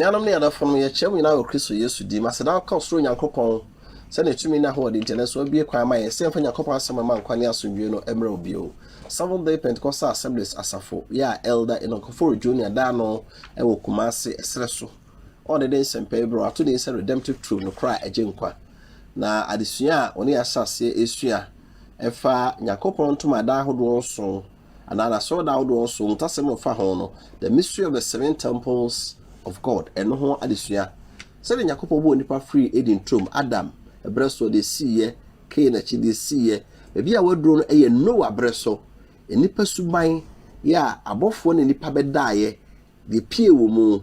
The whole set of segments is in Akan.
Anuanom ne adɔfo no, yɛkyerɛ mo nyinaa wɔ Kristo Yesu din mu aseda nka ɔsoro Nyankopɔn sɛ ne tumi ne ahoɔden nti, ɛno nso abue kwan ama yɛn sɛ yɛmfa Nyankopɔn asɛm a ɛma nkwa ne asomdwoe no mmrɛ wo bio. Seventh-day Pentecostal Assemblies Asafo yɛ a Elder Enoch Ofori Junior da ano wɔ Kumasi, ɛserɛ so, a ɔde ne nsɛmpae bi a wato din sɛ Redemptive Truth, Nokorɛ a Ɛgye Nkwa, na adesua a ɔne yɛn ahyɛ aseɛ resua ɛfa Nyankopɔn ntomadan ahodoɔ nson anaa N'asɔredan ahodoɔ nson mu nokwasɛm a ɛfa ho no, The Mystery of the Seven Temples of God, ɛno ho adesua. Sɛdeɛ Nyankopɔn bɔɔ nnipa firii Eden turom, Adam, berɛ so, ɔde siiɛ Kain akyi de siiɛ. Baabi a wɔaduro no yɛ Noa berɛ so. Nnipa suban yɛ a abɔfoɔ ne nnipa bɛdaeɛ deɛ pie wɔ mu.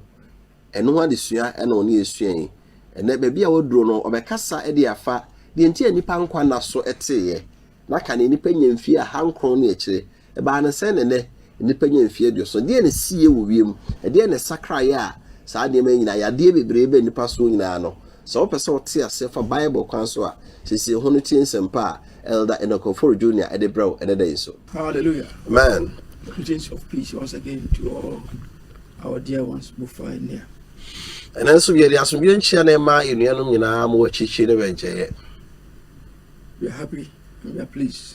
Ɛno ho adesua na ɔne yɛ sua yi. Ɛnɛ baabi a wɔaduro no ɔbɛkasa de afa deɛ nti a nnipa nkwa nna so teeɛ. Na ka neɛ nnipa nya mfie ahankron ne akyire Ɛbaa no sɛn na nnɛ nnipa nya mfeɛ aduɔson? Deɛn na ɛsiiɛ wɔ wiem? Ɛdeɛn na ɛsakraeɛ a saa nneɛma yi nyinaa, yadeɛ bebree ba nnipa soɔ nyinaa no? Sɛ wopɛ sɛ wote aseɛ fa Bible kwan so a, siesie ho na tie nsɛmpa a Elder Enoch Ofori Junior de brɛ wo ɛnɛ da yi so. Hallelujah! Amen! Greetings of peace once again to all our dear ones who find near. Ɛnɛ nso yɛde asomdwoeɛ nkyia na ɛma yɛn nuanom nyinaa ma wɔ akyirikyiri ne wɔ nkyɛeɛ. We are happy and we are pleased.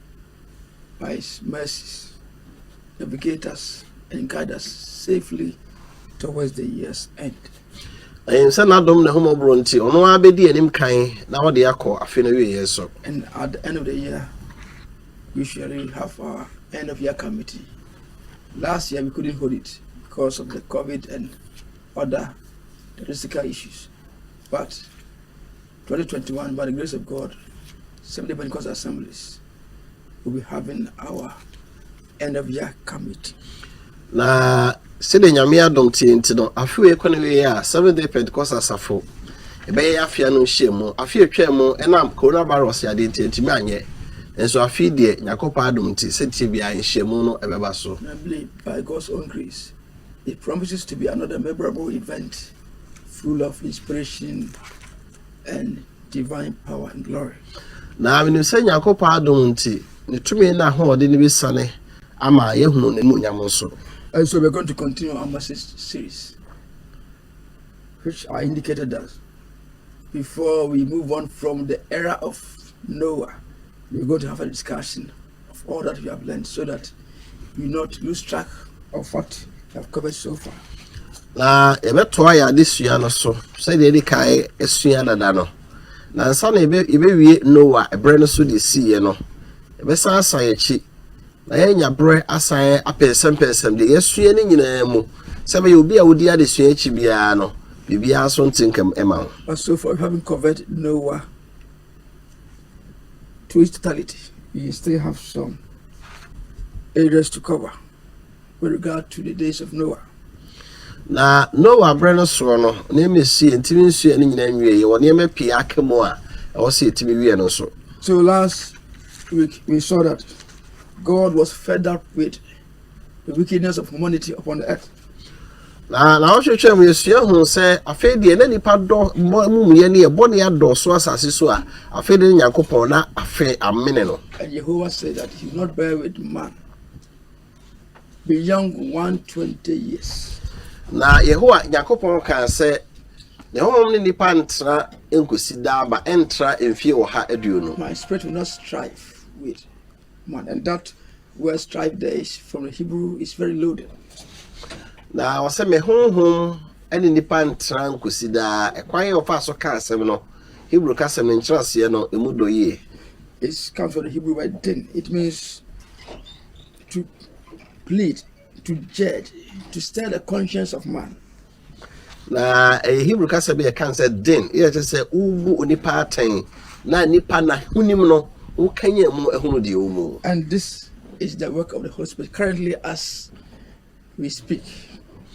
Pais Mersis Navigators and Guiders Safely Towards the Year's End. Ɛyɛ sɛ n'adom na ɛhomɔborɔ nti, ɔno ara bɛdi anim kan na ɔde akɔ afe no awieeɛ so. And at the end of the year, usually we have our end of year committee. Last year we couldn't hold it because of the COVID and other logistical issues. But Twenty twenty one by the grace of God Seventh-day Pentecost Assemblies will be having our end of year committee. Na sɛdeɛ nyame adom tie nti no afe wei kɔ ne wei a seven day pentecost asafo ɛbɛyɛ afea no nhyia mu afe atwa mu ɛnam coronavirus yadeɛ nti ɛntumi anyɛ nso afe deɛ nyankopɔn adom nti sɛdeɛ biara nhyiamu no ɛbɛba so na believe by God's own grace it promises to be another memorable event Full of inspiration and divine power and glory. Na menim sɛ Nyankopɔn adom nti, ne tumi na ahoɔden no bɛsiane ama yɛahunu n'animuonyam nso. And so we're going to continue our message series, which I indicated that before we move on from the era of Noah, we're going to have a discussion of all that we have learned so that we not lose track of what we have covered so far. Na yɛbɛtoa yɛn adesua no so sɛdeɛ yɛde kae asua dada no. Na nsa na yɛbɛwie Noa ɛberɛ no so de siiɛ no, yɛbɛsan asan akyi na yɛanya berɛ asan apɛnsɛmpɛnsɛm deɛ yɛasua no nyinaa mu sɛ bɛyɛ obi a wodi adesua akyi biara no biribiara nso nte nkam ma wo. But so far we haven't covered Noah. Totality, you still have some areas to cover with regard to the days of Noah. Na Noah berɛ no soɔ no, nneɛma ɛsi ɛntumi nsuɛ no nyinaa nwie yɛ wɔ nneɛma pii aka mu a ɛwɔ sɛ ɛtumi wie no nso. So last week we saw that God was fed up with The Wickedness of Humanity Upon Earth. Na nnawɔtwe twam yɛsua huu sɛ afei deɛ na nnipa dɔ bɔ amumuyɛ ne yɛ bɔne adɔɔso asase so a afei de ne Nyankopɔn na afei amene no. And Jehovah said that he will not bear with man beyond 120 years. Na Yehowa Nyankopɔn kaa sɛ ne honhom ne nnipa ntena nkosi daa ba ɛntra mfie ɔha aduonu. My spirit will not strive with Man, and that word strife there is from the Hebrew is very loaded. Na ɔsɛ me honhom ne nipa ntena nkosi daa. Ɛkwan yɛ ɔfa so ka asɛm no. Hebrew ka asɛm no nkyerɛaseɛ no emu dɔ yie. It comes from the Hebrew word din. It means to plead, to judge, to stir the conscience of man. Na ɛyɛ Hebrew kasa bi a ɛka sɛ den, yɛ kyerɛ sɛ wobu onipa atɛn na nipa na honim no wokanyan mu ahunu deɛ ɔwɔ mu. And this is the work of the Holy Spirit currently as we speak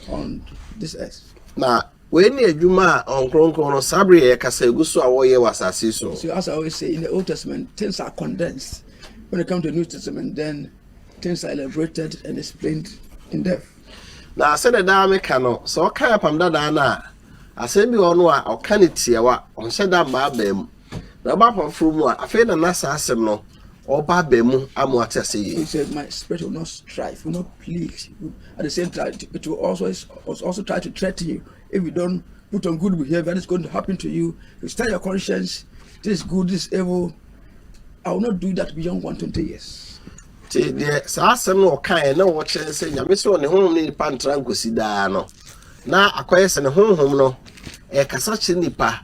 on this earth. Na wei ne adwuma a ɔnkronkron no saa bere yɛ kasa egu so a wɔyɛ wɔ asase so. So as I always say, in the Old Testament, things are condensed. When it comes to the New Testament, then things are elaborated and explained in depth. Na sɛdeɛ daa meka no, sɛ ɔka Apam Dadaa no a, asɛm bi wɔ hɔ no a ɔka no tiawa, ɔnhyɛ da mma aba mu. Na ɔba Apam Foforɔ mu a, afei na na saa asɛm no ɔba aba mu ama wɔate aseɛ yie. He said, My spirit will not strive, will not plead. At the same time, it will also, it will also try to threaten you. If you don't put on good behavior, this is going to happen to you. You start your conscience. This is good, this is evil. I will not do that beyond 120 years. te deɛ saa asɛm no ɔkaeɛ na wɔkyerɛ sɛ nyame sɛ ɔne honhom ne nipa ntra nkosi daa no na akɔyɛ sɛ ne honhom no ɛkasa kyerɛ nipa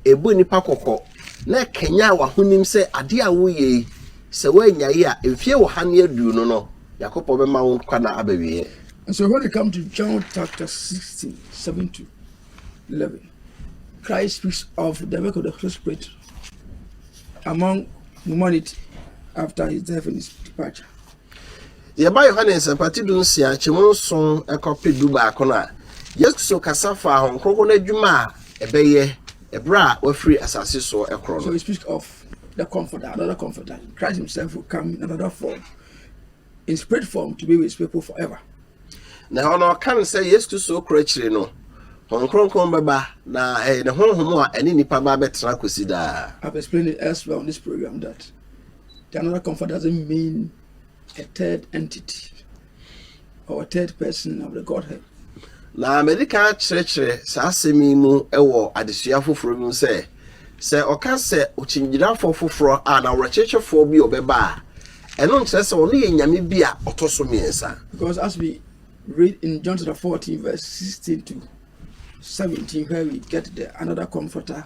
Ɛbɔ nnipa kɔkɔ na ɛkanyan w'ahonim sɛ adeɛ a woreyɛ yi, sɛ woannyae a, mfeɛ ɔha ne aduonu no, Nyankopɔn bɛma wo nkwa nna abɛwieɛ. And so when it comes to John chapter 16, 7 to 11, Christ speaks of the work of the Holy Spirit among humanity after his death and his departure. Yɛba Yohane Nsɛmpa ti dunsia, kyɛmu nson kɔpe dubaako no a, Yesu kasa faa Honhom Kronkron no adwuma a ɛbɛyɛ bere a wafiri asase so koro no. Na ɛhɔ no ɔka no sɛ Yesu Kristo koro akyiri no, Honhom Kronkron bɛba, na ɛyɛ ne honhom a ɛne nnipa ba bɛtena kosi daa. The another comfort doesn't mean a third entity or a third person of the Godhead. Na mede kan akyerɛkyerɛ saa asɛm yi mu wɔ adesua foforɔ bi mu sɛ, sɛ ɔka sɛ ɔkyingyinafoɔ foforɔ a na ɔwerɛkyekyefoɔ bi ɔbɛba a, ɛno nkyerɛ sɛ ɔno yɛ nyame bi a ɔtɔ so mmiɛnsa. Because as we read in John chapter 14 verse 16 to 17 where we get the another comforter,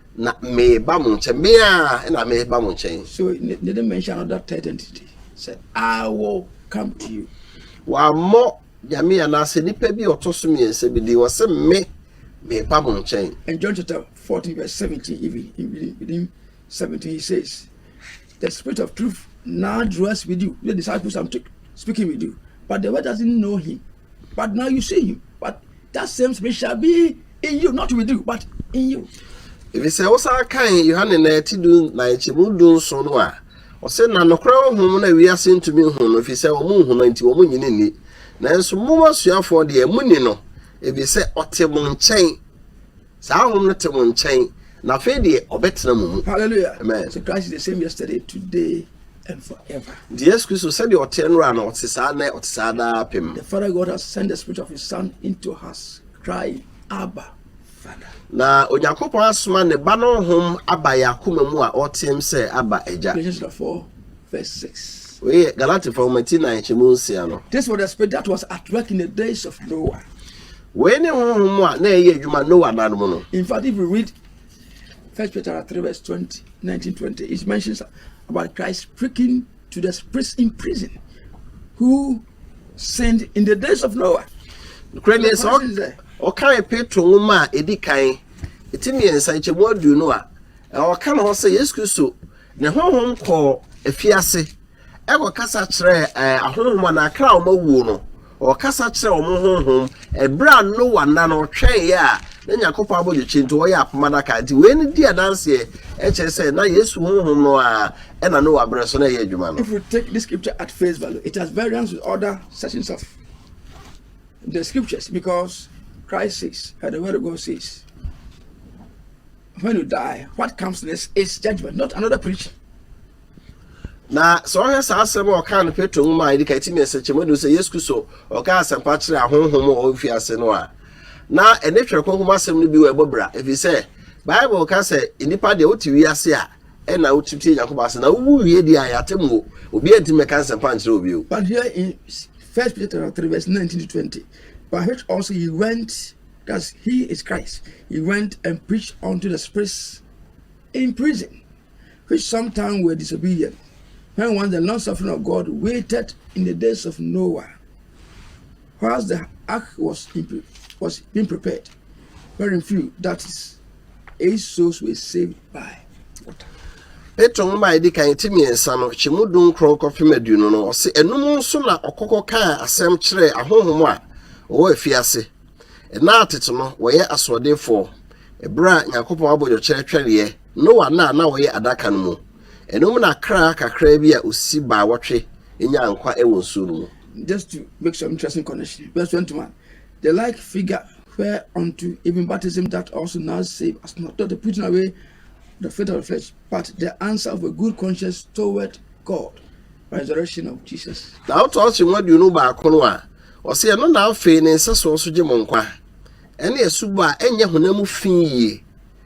Na mereba mo nkyɛn, me ara na mereba mo nkyɛn. So they didn't mention another third entity? Say, I will come to you. Wɔammɔ Nyame anaasɛ nipa bi a ɔtɔ so mmiɛnsa bi din, ɔse me, mereba mo nkyɛn. And John chapter 14 verse 17 even, in within, within 17 he says, the spirit of truth now dwells with you. The disciples I'm speaking with you, but the world doesn't know him. But now you see him, but that same spirit shall be in you, not with you, but in you. Ebi sɛ wosan kan Yohane na ɛti du na nkyɛmu du nson no a, ɔsɛ na nokorɛ honhom na wiase ntumi nhu no, ɛfiri sɛ wɔn nhu no nti wɔn nyini nni. Nanso mo asuafoɔ deɛ moni no, ebi sɛ ɔte mo nkyɛn Saa Hom no tse mo nkyɛn, na afei deɛ ɔbɛtena mo mu. Hallelujah! Amen. So Christ is the same yesterday, today, and forever. Nti Yesu Kristo sɛdeɛ ɔteɛ nnora no, ɔte saa nnɛ, ɔte saa daapem. The Father God has sent the Spirit of His Son into us, crying, Abba, Father. Na Onyankopɔn asoma Ne Ba no Honhom aba yɛn akoma mu a ɔreteam sɛ, Abba, Agya. Galatians chapter 4, verse 6. Wei yɛ Galatifoɔ nwoma ti nnan kyɛmu nsia no. This was the spirit that was at work in the days of Noah. Wei ne honhom a na ɛyɛ adwuma Noah nna no mu no. In fact, if you read First Peter chapter three verse twenty, nineteen twenty, it mentions about Christ speaking to the spirits in prison who sinned in the days of Noah. Kure ne sɛ ɔkan Petro nwoma a edi kan eti mmiɛnsa nkyɛmu aduonu a ɔka ne ho sɛ Yesu Kristo ne honhom kɔɔ afiase Ɛkɔkasa kyerɛ ahonhom anaa akra a wɔawuo no. Ɔkasa kyerɛ wɔn honhom. Ɛberɛ a Noa nna no ɔtwɛneeɛ a na Nyankopɔn abɔdwetwe nti wɔyɛ apam adaka. Nti wei no di adanseɛ ɛkyerɛ sɛ na Yesu honhom no ara ɛna Noa berɛ so na ɛyɛ adwuma no. If we take this scripture at face value, it has variance with other sections of the scriptures because Christ says, and the word of God says, when you die, what comes next is judgment, not another preaching. Na sɛ ɔhwɛ saa asɛm a ɔkaa no Petro nwoma a ɛdi kan ti mmiɛnsa kyɛ mu adu sɛ Yesu Kristo ɔkaa asɛmpa kyerɛ ahonhom a wɔwɔ mfiase no a, na ɛne Twerɛ Kronkron mu asɛm no bi wɔ ɛbɔ bra, ɛfiri sɛ Bible ka sɛ nnipa deɛ wote wiase a ɛna wotim tie Nyankopɔn asɛm na wowu wie deɛ a yɛate mu obiara ntumi mɛka nsɛmpa nkyerɛ wɔ bio. But here in First Peter chapter 3 verse 19 to 20, by which also he went, that he is Christ, he went and preached unto the spirits in prison. which sometime were disobedient, when once the long-suffering of God waited in the days of Noah, whilst the ark was, was being prepared, wherein few, that is, eight souls were saved by water. Petro nwoma a ɛdi kan ti mmiɛnsa no kyɛ mu du nkron kɔpem aduonu no ɔse ɛno mu nso na ɔkɔkɔ kaa asɛm kyerɛɛ ahonhom a wɔwɔ afiase ɛna atete no wɔyɛ asoɔdenfoɔ ɛberɛ a nyankopɔn abɔdwɔkyerɛ twɛreɛ Noa nna a na wɔyɛ adaka no mu. Ɛno mu na akra kakraa bi a osi baawɔtwe nyaa nkwa wɔ nsu no mu. Just to make some interesting connection, verse 21, The like figure whereunto even baptism doth also now save, as not the putting away the faith of the flesh, but the answer of a good conscience toward God by resurrection of Jesus. Na ɔtɔ ɔkye ho aduonu baako no a, ɔse ɛno na afei ne nsɛsoɔ so gye mo nkwa, ɛne asubɔ a ɛnyɛ honam mu fi yie,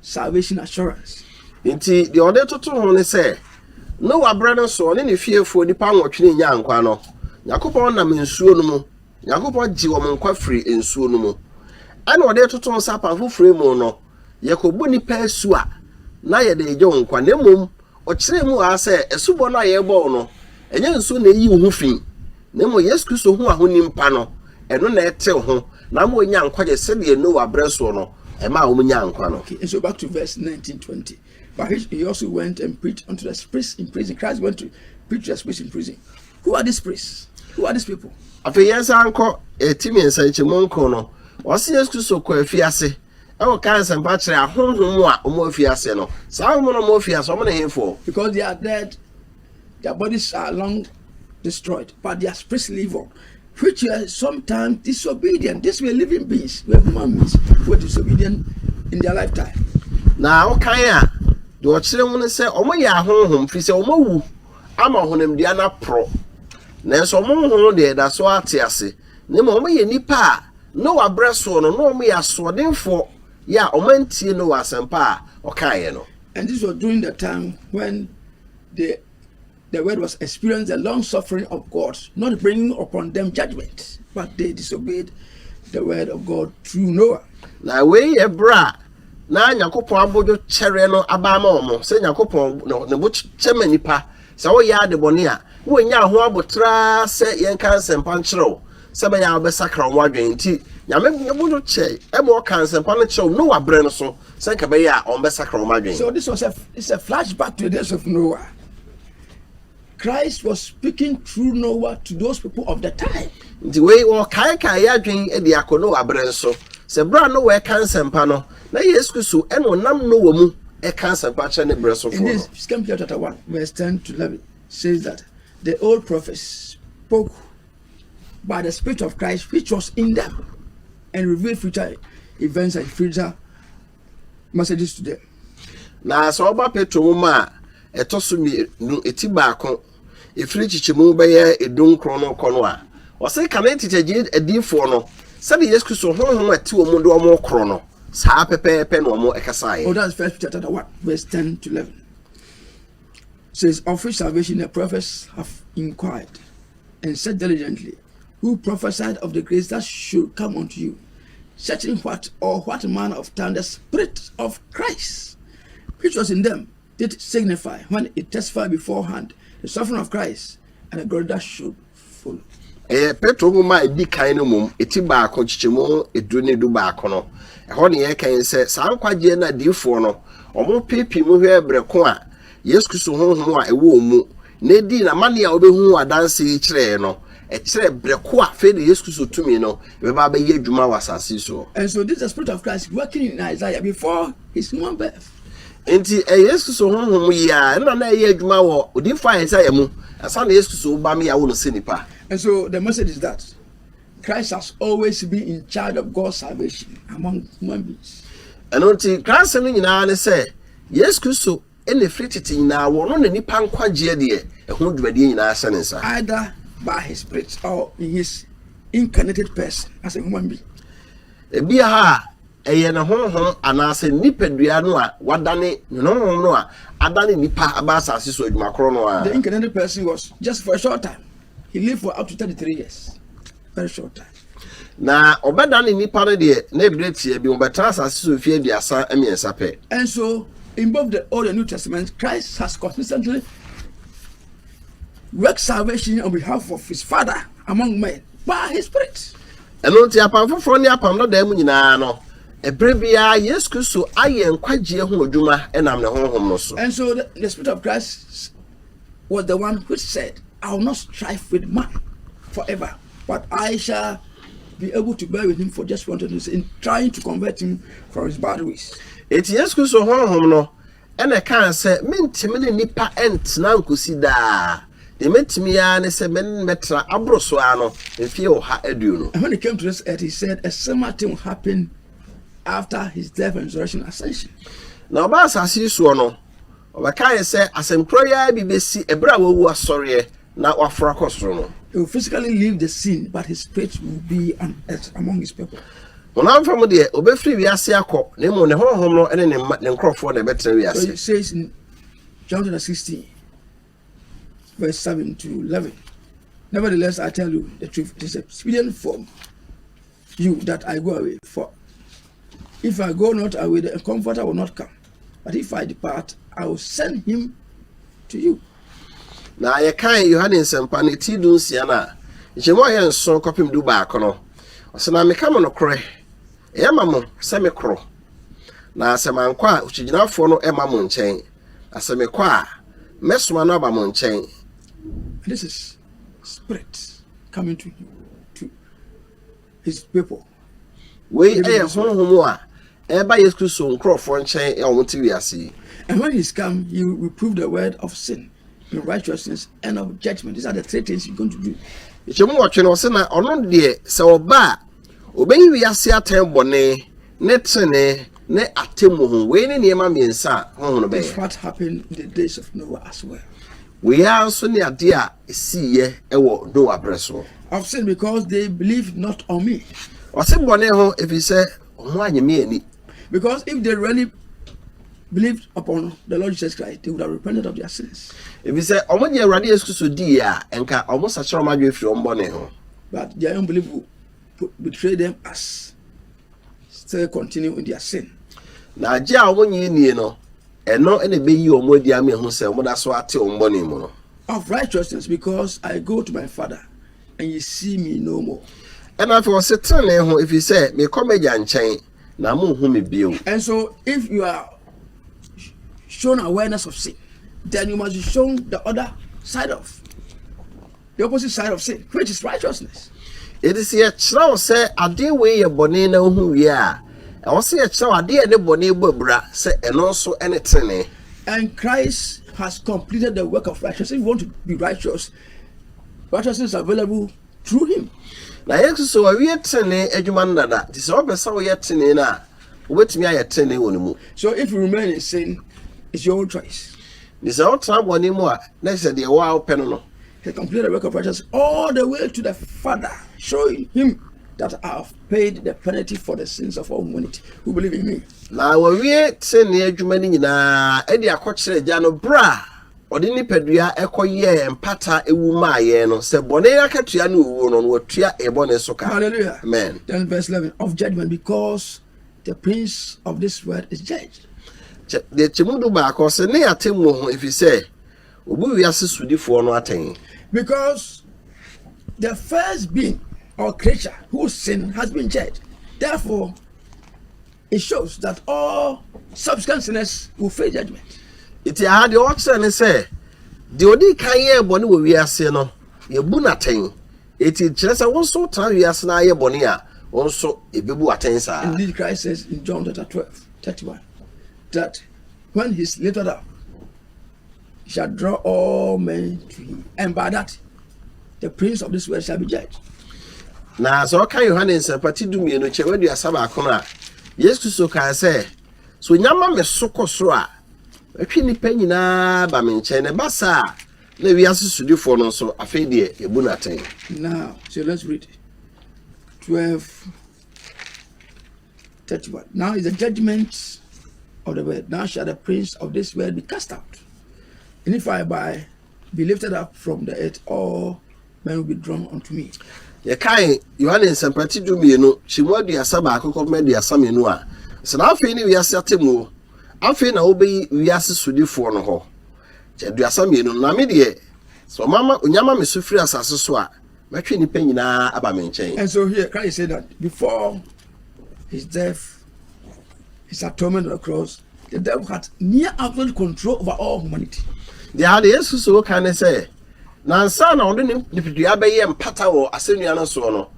Salvation Assurance. Enti deɛ ɔde toto ho ne sɛ, Noa berɛ no so, ɔne ne fiefoɔ nnipa nwɔtwe no nyaa nkwa no, Nyankopɔn nam nsuo no mu, Nyankopɔn gyee wɔn nkwa firii nsuo no mu. Ɛna ɔde toto ho sɛ, Apam Foforɔ yi mu no, yɛkɔbɔ nnipa asu a, na yɛde regye wɔn nkwa, na mmom Ɔkyerɛɛ mu ara sɛ asubɔ no a yɛrebɔ wo no, ɛnyɛ nsu na eyi wo ho fi, na mmom Yesu Kristo ho ahonim pa no, ɛno na ɛtew ho, na ama wɔanya nkwagye sɛdeɛ Noa berɛ soɔ no, ɛmaa wɔnyaa nkwa no. Okay, so back to verse 19, 20. But he, he also went and preached unto the spirits in prison. Christ went to preach to the spirits in prison. Who are these spirits? Who are these people? Afei yɛn san nkɔ ɛti mmiɛnsa nkyɛmu nkron no, ɔse Yesu Kristo kɔ afiase. Woka nsɛmpa kyerɛ ahonhom a wɔafi ase no, saa ahonhom no a wɔafi ase, wɔn ne hefoɔ? Because they are dead, their bodies are long destroyed, but their spirits live on, which were sometimes disobedient. These were living beings, were human beings, were disobedient in their lifetime. Na wokan a, deɛ ɔkyerɛ mu no sɛ wɔn yɛ ahonhom, firi sɛ wɔn awu ama ɔhonamdua no aporɔ, nanso wɔn honhom deɛ ɛda so ate ase. Na mmom wɔyɛ nnipa a Noa berɛ soɔ no na wɔyɛ asoɔdenfoɔ yɛ a wɔantie Noa asɛmpa a ɔkaeɛ no. And this was during the time when the the world was experiencing the long suffering of God, not bringing upon them judgment, but they disobeyed the word of God through Noah. Na wei yɛ berɛ a na Nyankopɔn abodwo kyɛreɛ no aba ama wɔn, sɛ Nyankopɔn ne bo kyɛ ma nnipa Sɛ woyɛ adebɔne a, worennya ho aboterɛ ara sɛ yɛnka nsɛmpa nkyerɛ wo, sɛ ɛbɛyɛ a wobɛsakra wo adwene. Enti Nyame bɔɔ wɔn ho kyɛe ma wɔkaa nsɛmpa no kyerɛw Noa berɛ no so, sɛ anka ɛbɛyɛ a wɔbɛsakra wɔn adwene. So this was a is a flashback to the days of Noah? Christ was speaking through Noah to those people of the time. Nti wei wɔkaekae yɛn adwene de akɔ Noa berɛ nso, sɛ berɛ a Noa reka nsɛmpa no, Na Yesu Kristo na ɔnam Noa mu reka asɛmpa kyerɛ ne berɛ sofoɔ no. Indeed, Second Peter chapter 1 verse 10 to 11 says that the old prophets spoke by the Spirit of Christ which was in them and revealed future events and future messages to them. Na sɛ ɔba Petro nwoma a ɛtɔ so mmienu eti baako Ɛfiri nkyekyɛmu bɛyɛ edunkron no rekɔ no a, ɔse kane tete gye adiyifoɔ no sɛdeɛ Yesu Kristo honhom a ɛte wɔn mu de wɔn rekoro no, saa ara pɛpɛɛpɛ na wɔn kasaeɛ. Oh, that's First Peter chapter 1, verse 10 to 11. Says, Of which salvation the prophets have inquired and searched diligently, who prophesied of the grace that should come unto you, searching what or what manner of time the Spirit of Christ which was in them It signifies when it testifies beforehand, the suffering of Christ and the glory that should follow. Ɛyɛ Petro nwoma a edi kan no mmom, eti baako, nkyekyɛmu edu ne du baako no. Ɛhɔ na yɛkan sɛ saa nkwagyeɛ no adiyifoɔ no, wɔn pepem hwɛɛ berɛ ko a Yesu Kristo honhom a ɛwɔ wɔn mu Na edii n'amane a obehu ho adanse yi kyerɛe no, ɛkyerɛɛ bere ko a afei de Yesu Kristo tumi no bɛba abɛyɛ adwuma wɔ asase so. And so this is the spirit of Christ working in Isaiah before his human birth. Enti ɛyɛ Yesu Kristo honhom yi ara na na ɛyɛ adwuma wɔ odiyifo Isaiah mu ansa na Yesu Kristo reba ma yɛawo no sɛ nipa. And so the message is that Christ has always been in charge of God's salvation among human beings. Ɛno nti, Christ asɛm no nyinaa ne sɛ Yesu Kristo Ɛna ɛfiri tete nyinaa wɔno na nnipa nkwagyeɛ deɛ ɛho dwumadie nyinaa ahyɛ ne nsa. Either by his spirit or in his incarnated person as a human being. Ebia ha a ɛyɛ ne honhom anaasɛ ne nipadua no a wadane ne honhom no a adane nnipa aba asase so adwuma korɔ no ara. The incarnated person was just for a short time. He lived for up to 33 years. Very short time. Na wɔbɛdane nnipa no deɛ ne berɛ teɛ bio, wɔbɛtena asase so mfeɛ aduasa mmiɛnsa pɛ. And so, in both the Old and New Testament, Christ has consistently worked salvation on behalf of his Father among men by his Spirit. Ɛno nti, apam foforɔ ne apam dadaa mu nyinaa no, ɛberɛ biara Yesu Kristo ayɛ nkwagyeɛ ho adwuma ɛnam ne honhom no so. And so, the, the Spirit of Christ was the one which said, I will not strive with man forever, but I shall be able to bear with him for just one day in trying to convert him from his bad ways. Eti Yesu Kristo honhom no ɛna ɛkaa sɛ mentumi ne nipa ɛntena nkosi daa. Deɛ mɛtumi ara ne sɛ mɛtra aboro so ara no mfeɛ ɔha aduonu. And when it came to this earth, he said a similar thing will happen after his death and resurrection ascension. Na ɔbaa asase soɔ no, Ɔbɛkae sɛ asɛm korɔ yi ara bi bɛsi ɛberɛ a wawu asɔreɛ na waforo akɔ soro no. He will physically leave the scene but his spirit will be on earth among his people. Honam fam deɛ, ɔbɛfiri wiase akɔ, na mmom ne honhom no ne ne mma, ne nkorɔfoɔ, na ɛbɛtena wiase. So it says in John chapter 16 verse 7 to 11, Nevertheless I tell you the truth, it is expedient for You, that I go away. For if I go not away, the Comforter will not come. But if I depart, I will send him to you. Na yɛkae Yohane nsɛmpa no ti du nsia no a, nkyɛmu a yɛ nson kɔpem du baako no, ɔsɛ na meka mo nokorɛ, ɛyɛ ma mo sɛ mekorɔ. Na sɛ mankɔ a, okyigyinafoɔ no ɛma mo nkyɛn, na sɛ mekɔ a, mɛsoma no aba mo nkyɛn. This is spirit coming to you. Wei yɛ honhom a ɛreba Yesu Kristo nkurɔfoɔ nkyɛn a wɔte wiase yi. And when he's come, he will reprove the world of sin, in righteousness, and of judgment. These are the three things he's going to do. Nkyɛmu wɔtwe na ɔse na ɔno deɛ sɛ ɔba a ɔbɛyi wiase atɛn bɔne ne tene ne atemmu ho. Wei ne nneɛma mmiɛnsa a honhom no bɛyɛ. This what happened in the days of Noah as well. Wei ara nso ne adeɛ a siiɛ wɔ Noa berɛ soɔ. Of sin because they believed not on me. Ɔse bɔne ho ɛfiri sɛ wɔn annye me ani. Because if they really believed upon the Lord Jesus Christ, they would have repented of their sins. Ɛfiri sɛ wɔn gye Awurade Yesu Kristo dii a, nka wɔn sakyerɛ wɔn adwene firi wɔn bɔne ho. But their unbelief will betray them as. Still continue with their sin. Na agye a wɔn nyɛ nie no, ɛno na ɛbɛyi wɔn adi ama ɛho sɛ wɔn da so ate wɔn bɔne mu no. Of righteousness because I go to my father and you see me no more. Ɛna afei wɔse tenenee ho ɛfiri sɛ mekɔ m'agya nkyɛn na monhu me bio. And so if you are shown awareness of sin then you must be shown the other side of The opposite side of sin, which is righteousness. Enti sɛ yɛkyerɛ wo sɛ adeɛ wei yɛ bɔne na wohu wie a, ɛwɔ sɛ yɛkyerɛ wo adeɛ a ɛne bɔne bɔ abira sɛ ɛno nso ne tenenee. And Christ has completed the work of righteousness. If you want to be righteous, righteousness is available through him. Na Yesu so wawie tenenee adwuma no dada. Nti sɛ wopɛ sɛ woyɛ tenenee no a, wobɛtumi ayɛ tenenee wɔ ne mu. So if you remain in sin, it's your own choice. Nti sɛ wotena bɔne mu a, na kyerɛ sɛ deɛ wo ara wopɛ no no. He completed the work of righteousness all the way to the Father, showing him that I have paid the penalty for the sins of all humanity who believe in me. Na wɔwie trenee adwuma no nyinaa de akɔkyerɛ agya no bere a ɔde nipadua kɔyɛɛ mpata ewu maa yɛn no sɛ bɔne akatua ne owuo no, na watua yɛn bɔne so ka. Hallelujah. Amen. Then verse 11 of judgment because the prince of this world is judged. Kyɛ- Deɛ kyɛ mu du baako sɛ ne atemmuo ho ɛfiri sɛ Obu wiase sodifoɔ no atɛn. Because the first being or creature who sinned has been judged, therefore it shows that all subsequent sinners will face judgment. Iti aha deɛ ɔkyerɛ ne sɛ deɛ odi kan yɛɛ bɔne wɔ wiase no yɛbu no atɛn. Eti kyerɛ sɛ wo nso tra wiase na ayɛ bɔne a wo nso ebebu atɛn saa. Indeed Christ says in John chapter 12 31 that when he is lifted up shall draw all men to him, and by that the prince of this world shall be judged. Na sɛ ɔka Yohane nsɛmpa ti du mmienu kyɛ wadu asa baako no a Yesu Kristo kaa sɛ so nyama me so kɔ soro a ɛtwe nnipa nyinaa ba me nkyɛn na ɛba saa a na wiase sodifoɔ no nso afei deɛ yɛbu no atɛn. Now so let's read twelve. 31. Now is the judgment of the world. Now shall the prince of this world be cast out. And if I by be lifted up from the earth, all men will be drawn unto me. yɛkae yohane nsɛmpati du mmienu kyemu aduasa baako kɔpem aduasa mmienu a sɛ na afei ne wiase atemmuo afei na wobɛyi wiase sodifoɔ no hɔ kyɛ aduasa mmienu na me deɛ sɛ ɔmama onyama me so firi asase so a Mɛtwe nnipa nyinaa aba me nkyɛn. And so here Christ said that before his death, his atonement on the cross, the devil had near absolute control over all humanity. Deɛ ade Yesu so ka ne sɛ, nansa na ɔde ne nipadua bɛyɛ mpata wɔ asɛnnua no soɔ no,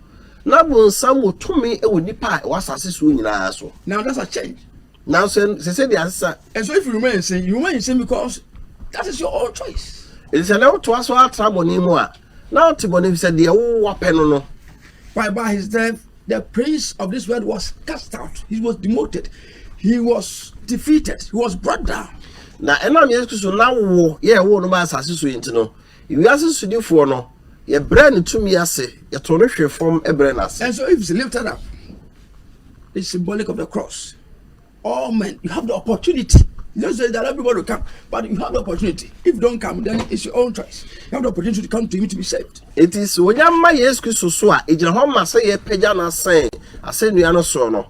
na bonsam wɔ tumi wɔ nnipa a ɛwɔ asase soɔ nyinaa so. Now that's a change. Nanso ɛsɛ sɛ de asesa. And so if you remain sin, you remain sin because that is your own choice. Ɛsɛ sɛ na wotoa so atra bɔne mu a, na wote bɔne fi sɛ deɛ wowapɛ no no. Why by his death the prince of this world was cast out, he was demoted, he was defeated, he was brought down. Na ɛnam Yesu Kristo na wo yɛ wo no ba asase so yi nti no. Wiase Sodifoɔ no, Yɛbrɛ no tumi ase, Yɛto no hwe fam brɛ no ase. And so if it's lifted up, it's symbolic of the cross. All men, you have the opportunity. Jesus says that everybody will come, but you have the opportunity. If you don't come, then it's your own choice. You have the opportunity to come to Him to be saved. It is when you ma Yesu Kristo so a, egyina hɔ ma sɛ yɛpagya no asɛn asɛnnua no soɔ no.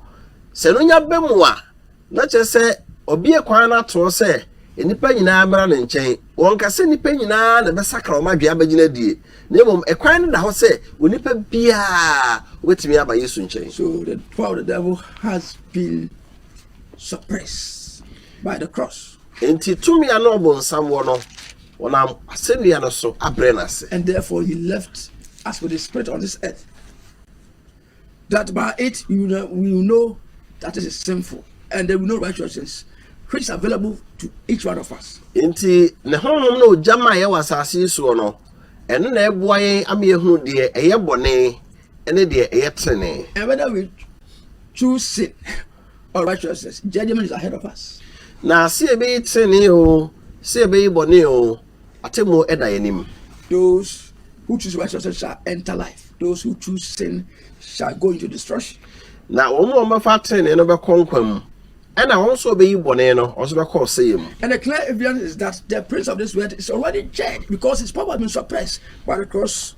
Sɛ no nya bɛ mu a, Na kyerɛ sɛ ɔbue kwan no ato hɔ sɛ nnipa nyinaa mmra ne nkyɛn. Wɔnka sɛ nnipa nyinaa na ɛbɛsakra wɔn adwene abɛgyina adie, na mmom ɛkwan no da hɔ sɛ onipa biara wobɛtumi aba Yesu nkyɛn. So the power of the devil has been suppressed by the cross. Enti tumi a na ɔbonsam wɔ no, wɔnam asɛnnua no so abrɛ no ase. And therefore he left us with his spirit on this earth. That by it you will know that it is sinful and there will no righteousness which is available to each one of us. Nti ne honhom na ogya ma yɛwɔ asase yi soɔ no, ɛno na ɛboa yɛn ama yɛhunu deɛ ɛyɛ bɔne ne deɛ ɛyɛ tenenee. And whether we choose sin or righteousness, judgment is ahead of us. Na sɛ yɛbɛyi tenenee o, sɛ yɛbɛyi bɔne o, Atemmuo da yɛn anim. Those who choose righteousness shall enter life. Those who choose sin shall go into destruction. Na wɔn a wɔbɛfa atenenee no bɛkɔ nkwa mu. Ɛna wɔn nso wɔbɛyi bɔne no, wɔn nso bɛkɔ ɔsɛeɛ mu. And the clear evidence is that the prince of this world is already dead because his power has been suppressed by the cross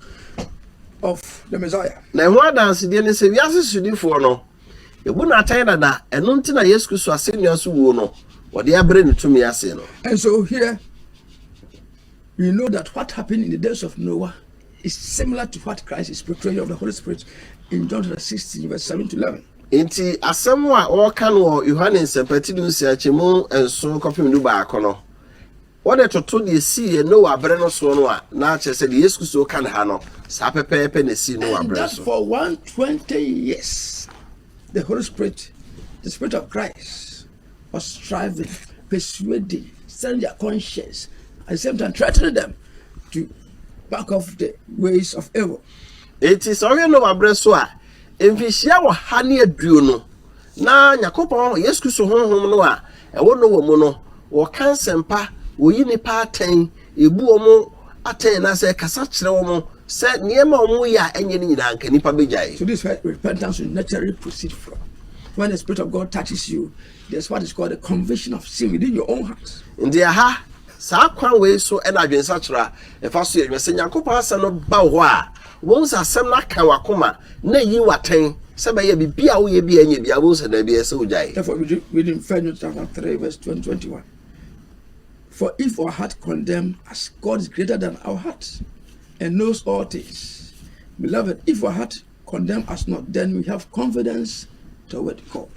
of the Messiah. Na ɛho adansedeɛ ne sɛ wiase sodifoɔ no, Yɛbu no atɛn dada, ɛno nti na Yesu Kristo asɛnnua so wuo no, wɔde abrɛ ne tumi ase no. And so here we know that what happened in the days of Noah is similar to what Christ is portraying of the Holy Spirit in John chapter 16 verse 7 to 11. Nti asɛm a wɔka no wɔ Yohane nsɛmpati du nsia kyɛmu nson kɔpem du baako no, Wɔde toto deɛ ɛsii yɛn Noa berɛ no soɔ no a, na kyerɛ sɛ deɛ Yesu Kristo reka no ha no, saa pɛpɛɛpɛ na ɛsii Noa berɛ nso. And that for one twenty years, the Holy Spirit, the Spirit of Christ, was striving, persuading, stirring their conscience, at the same time threatening them to back off the ways of error. Eti sɛ ɔhwɛ Noa berɛ so a, mfinhyia ɔha ne aduonu. na Nyankopɔn Yesu Kristo Honhom no a ɛwɔ Noah mu no, wɔka nsɛmpa, wɔyi nnipa atɛn, yɛbu wɔn atɛn anaasɛ kasa kyerɛ wɔn sɛ nneɛma a wɔyɛ a ɛnyɛ no nyinaa nka nnipa bɛgyae. So this repentance will naturally proceed from when the spirit of God touches you. There's what is called the conviction of sin within your own heart. Nti aha Saa kwan wei so na adwensakyera a ɛfa so yɛ adwuma. Sɛ Nyankopɔn Asɛm no ba wo hɔ a, wobɛhu sɛ Asɛm no aka w'akoma na ayi wo atɛn sɛ bɛyɛ a biribi a woyɛ biara nyɛ biara wobɛhu sɛ daabi ɛsɛ wogyae. Therefore read reading First John chapter three verse twenty twenty one For if our heart condemn us, God is greater than our heart and knows all things. Beloved, if our heart condemn us not, then we have confidence toward God.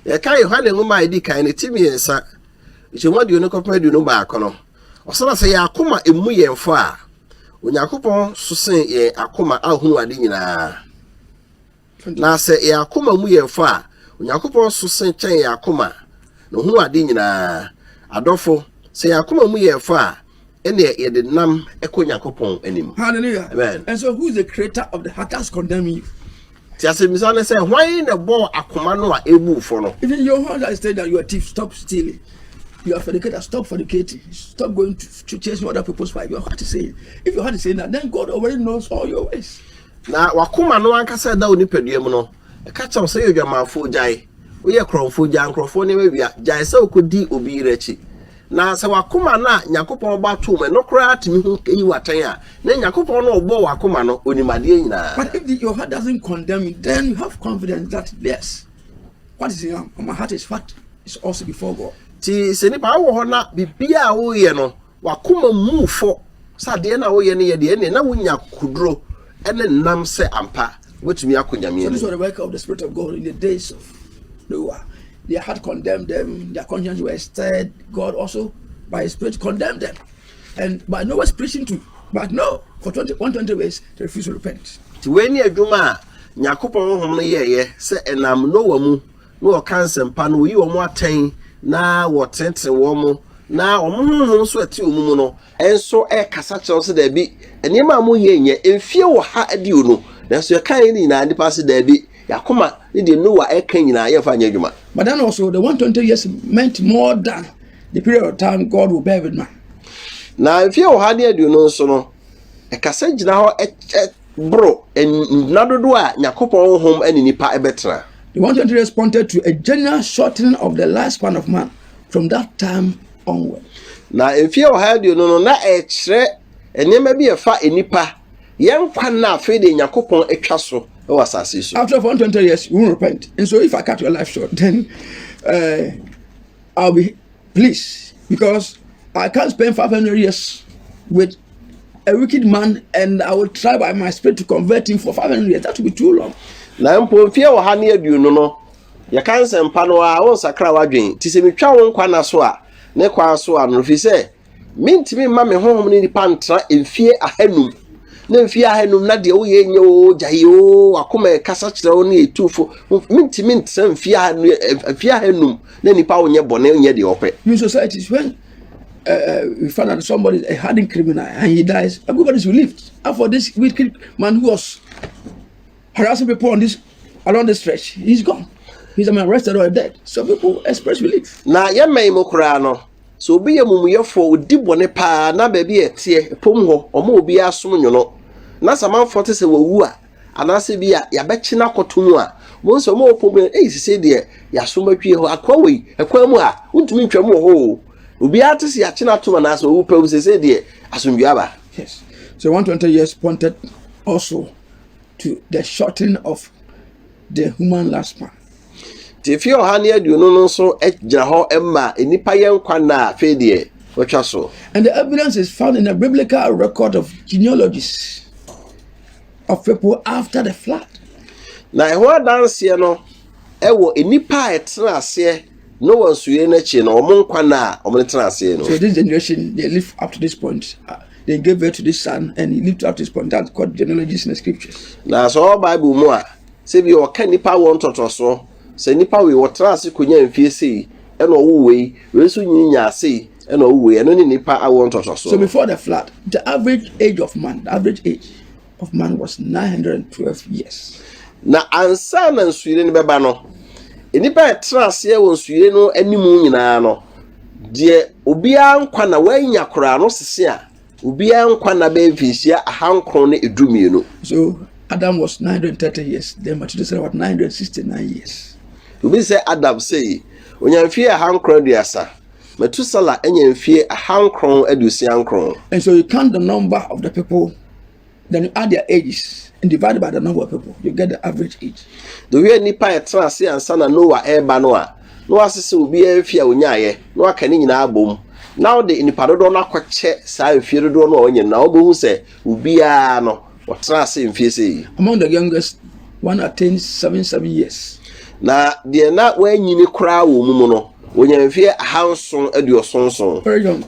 Yɛka Yohane nwoma a edi kan no ti mmiɛnsa Nkyɛmu aduonu kɔpem aduonu baako no, ɔsana sɛ yɛn akoma mmu yɛn fɔ a, Onyankopɔn so sen yɛn akoma a hunu ade nyinaa. Na sɛ yɛn akoma mu yɛn fɔ a, Onyankopɔn so sen kyɛn yɛn akoma na ohunu ade nyinaa. Adɔfo, sɛ yɛn akoma mu yɛn fɔ a, Ɛnneɛ yɛde nam kɔ Nyankopɔn anim. Hallelujah. Amen. And so who is the creator of the heart that's condemning you? Ti asɛmmisa ne sɛ hwan na ɛbɔɔ akoma no a ɛbu fɔ no? Even your husband has said that you are a thief, stop stealing. You are fornicator, stop fornicating. Stop going to, to chasing other people's wife. Your heart is saying. If your heart is saying that, then God already knows all your ways. Na wakoma no ankasa da wo nipadua mu no, ɛka kyerɛ wo sɛ yɛ odwamanfoɔ gyae, woyɛ korɔmfoɔ gyae, nkurɔfoɔ nneɛma wia, gyae sɛ wokɔdi obi yere akyi. Na sɛ w'akoma no a Nyankopɔn bɔ ato mu no koraa tumi hu eyi wo atɛn a, na Nyankopɔn no a ɔbɔɔ w'akoma no, onim adeɛ nyinaa. But if the, your heart doesn't condemn you, then you have confidence that yes, what is in your, my heart is what is also before God. Nti sɛ nipa wowɔ hɔ na biribiara a woyɛ no w'akoma mmu wo fɔ sɛ adeɛ no a woyɛ no yɛ deɛ, ɛnneɛ na wonya akokoduro ne nnam sɛ ampa wobɛtumi akɔ Nyame So this was anim. the work of the Spirit of God in the days of Noah. Their heart condemned them, their conscience were stirred. God also, by His Spirit, condemned them. And by no was preaching to, but no, for 20, 120 ways, they refused to repent. Ti wei ni adwuma a Nyankopɔn honhom no yɛɛyɛ sɛ ɛnam Noa mu na wɔka nsɛmpa no, wɔyi wɔn atɛn na wɔtenetene wɔn na wɔn honhom nso ɛte wɔn mu no nso kasa kyerɛ wo sɛ daabi, nneɛma a moyɛ nyɛ mfie wɔ ha adio no, nanso yɛka yɛ no nyinaa nnipa ase daabi, yɛakoma ne deɛ Noa ɛka nyinaa yɛmfa nyɛ adwuma. But then also the 120 years meant more than the period of time God will bear with man. Na mfie wɔ ha ne adio no nso no, ɛkasa gyina hɔ boro nna dodoɔ a Nyankopɔn honhom ne nipa bɛtena. The one twenty responded to a general shortening of the lifespan of man from that time onward. Na mfie ɔha aduonu no na ɛkyerɛ nneɛma bi a ɛfa nnipa yɛn nkwa nna afei de Nyankopɔn atwa so wɔ asase so. After one twenty years, you won't repent. And so if I cut your life short, then uh, I'll be Please, because I can't spend 500 years with a wicked man and I will try by my spirit to convert him for 500 years. That will be too long. Na mpo mfeɛ wɔ ha ne aduonu no, yɛka nsɛmpa no a wonsakra w'adwene. Ti sɛ metwa wo nkwa na so a, ne kwan so a no, ɛfiri sɛ mentumi mma me honhom ne nipa ntra mfeɛ ahanum na mfeɛ ahanum na deɛ woyɛ nyɛ o gyae o wakoma ɛkasa kyerɛ wo ne ɛtufo mentumi ntra mfeɛ ahanum na nipa wonyɛ bɔne onyɛ deɛ ɔpɛ. New society is when uh, uh, we found out somebody is a hardened criminal and he dies. Everybody is relieved. And for this wicked man who was harassing people on this along this stretch, he's gone. He's been arrested or dead. So people express relief. Na yɛ mmɛn mu koraa no so obi yɛ mumuyɛfoɔ odi bɔne paa na baabi a ɛteɛ pom hɔ ɔmo obi asom nyono na samanfoɔ te sɛ wɔwu a Anaasɛ bi a yɛabɛkye no akɔto mu a, wobɛhu sɛ wɔn a wɔpɔn mu no, ei, sesei deɛ yɛasom atwie hɔ, akoa wei, ɛkwan mu a, wontumi ntwa mu wɔ hɔ o. Obiara te sɛ yɛakye no atom anaasɛ wawu pɛw, sesei deɛ asomdwoe aba. Yes. So 120 years pointed also to the shortening of the human lifespan. Nti mfe ɔha ne aduonu no nso gyina hɔ ma nnipa yɛ nkwa nna a afei deɛ wɔatwa so. And the evidence is found in the biblical record of genealogies. of people after the flood. Na ɛho adanseɛ no ɛwɔ nnipa a ɛtena aseɛ Noah nsuyere no akyi no wɔn nkwa nna a wɔn tena aseɛ no. So this generation they live up to this point. Uh, they gave birth to this son and he lived up to this point. That's called genealogies in the scriptures. Na sɛ ɔwɔ Bible mu a sɛ bi ɔka nipa wɔn tɔtɔsoɔ sɛ nipa wei wɔtena ase konya mfie sei ɛna ɔwo wei wei nso nyi nya ase Ɛna owuiɛ, ɛno ne nnipa awoɔ ntɔsɔsoɔ. So before the flood, the average age of man, the average age of man was 912 years. Na ansa na nsuyire no bɛba no, nnipa a ɛtena aseɛ wɔ nsuyire no anim nyinaa no, deɛ obiara nkwa na wanya koraa no sese a obiara nkwa na bɛyɛ mfinhyia ahankron ne edu mmienu. So Adam was 930 years, then Methuselah was 969 years. Obi sɛ Adam sei, ɔnya mfeɛ ahankron aduasa. Metusala nya mfie ahankron aduosia nkron. And so you count the number of the people, then you add their ages and divide by the number of people, you get the average age. The way nipa yɛ tena ase ansa na Noah ɛreba no a, na wasese obiara mfie a onyaeɛ, na waka ne nyinaa abom. Na wode nipa dodoɔ no akɔkyɛ saa mfie dodoɔ no a wanya no, na wobɛhu sɛ obiara no, Wɔtena ase mfie sɛ yi. Among the youngest, one attained seven seven years. Na deɛ na wɔanyini koraa wɔ mu mu no, wɔnya mfeɛ ahanson aduɔson nson. Very young.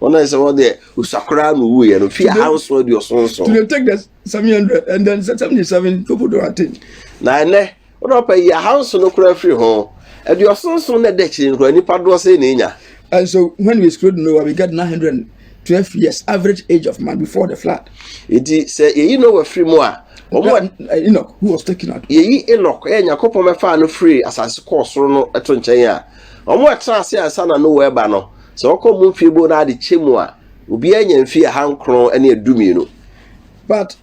Wɔn a sɛ wɔdeɛ osua koraa na owuiɛ no, mfeɛ ahanson aduɔson nson. To take the seven hundred and then seventy seven people don't attain. Na ɛnɛ. Wo na ɔpɛ yi ahanson no koraa firi ho. Aduɔson nson na ɛda akyire no koraa nipa doɔ sɛn na enya? And so when we screwed Noah we got 912 years average age of man before the flood. Eti sɛ yɛyi Noah firi mu a wɔn Enoch who was taken out. Yɛyi Enoch ɛyɛ Nyankopɔn bɛfaa no firi asase kɔɔ soro no ɛto nkyɛn a wɔn a ɛtena ase ansa na Noah ɛba no sɛ wɔkɔ wɔn mfie bo na ade kyɛ mu a obiara nya mfie ahankron ɛne ɛdu mmienu. But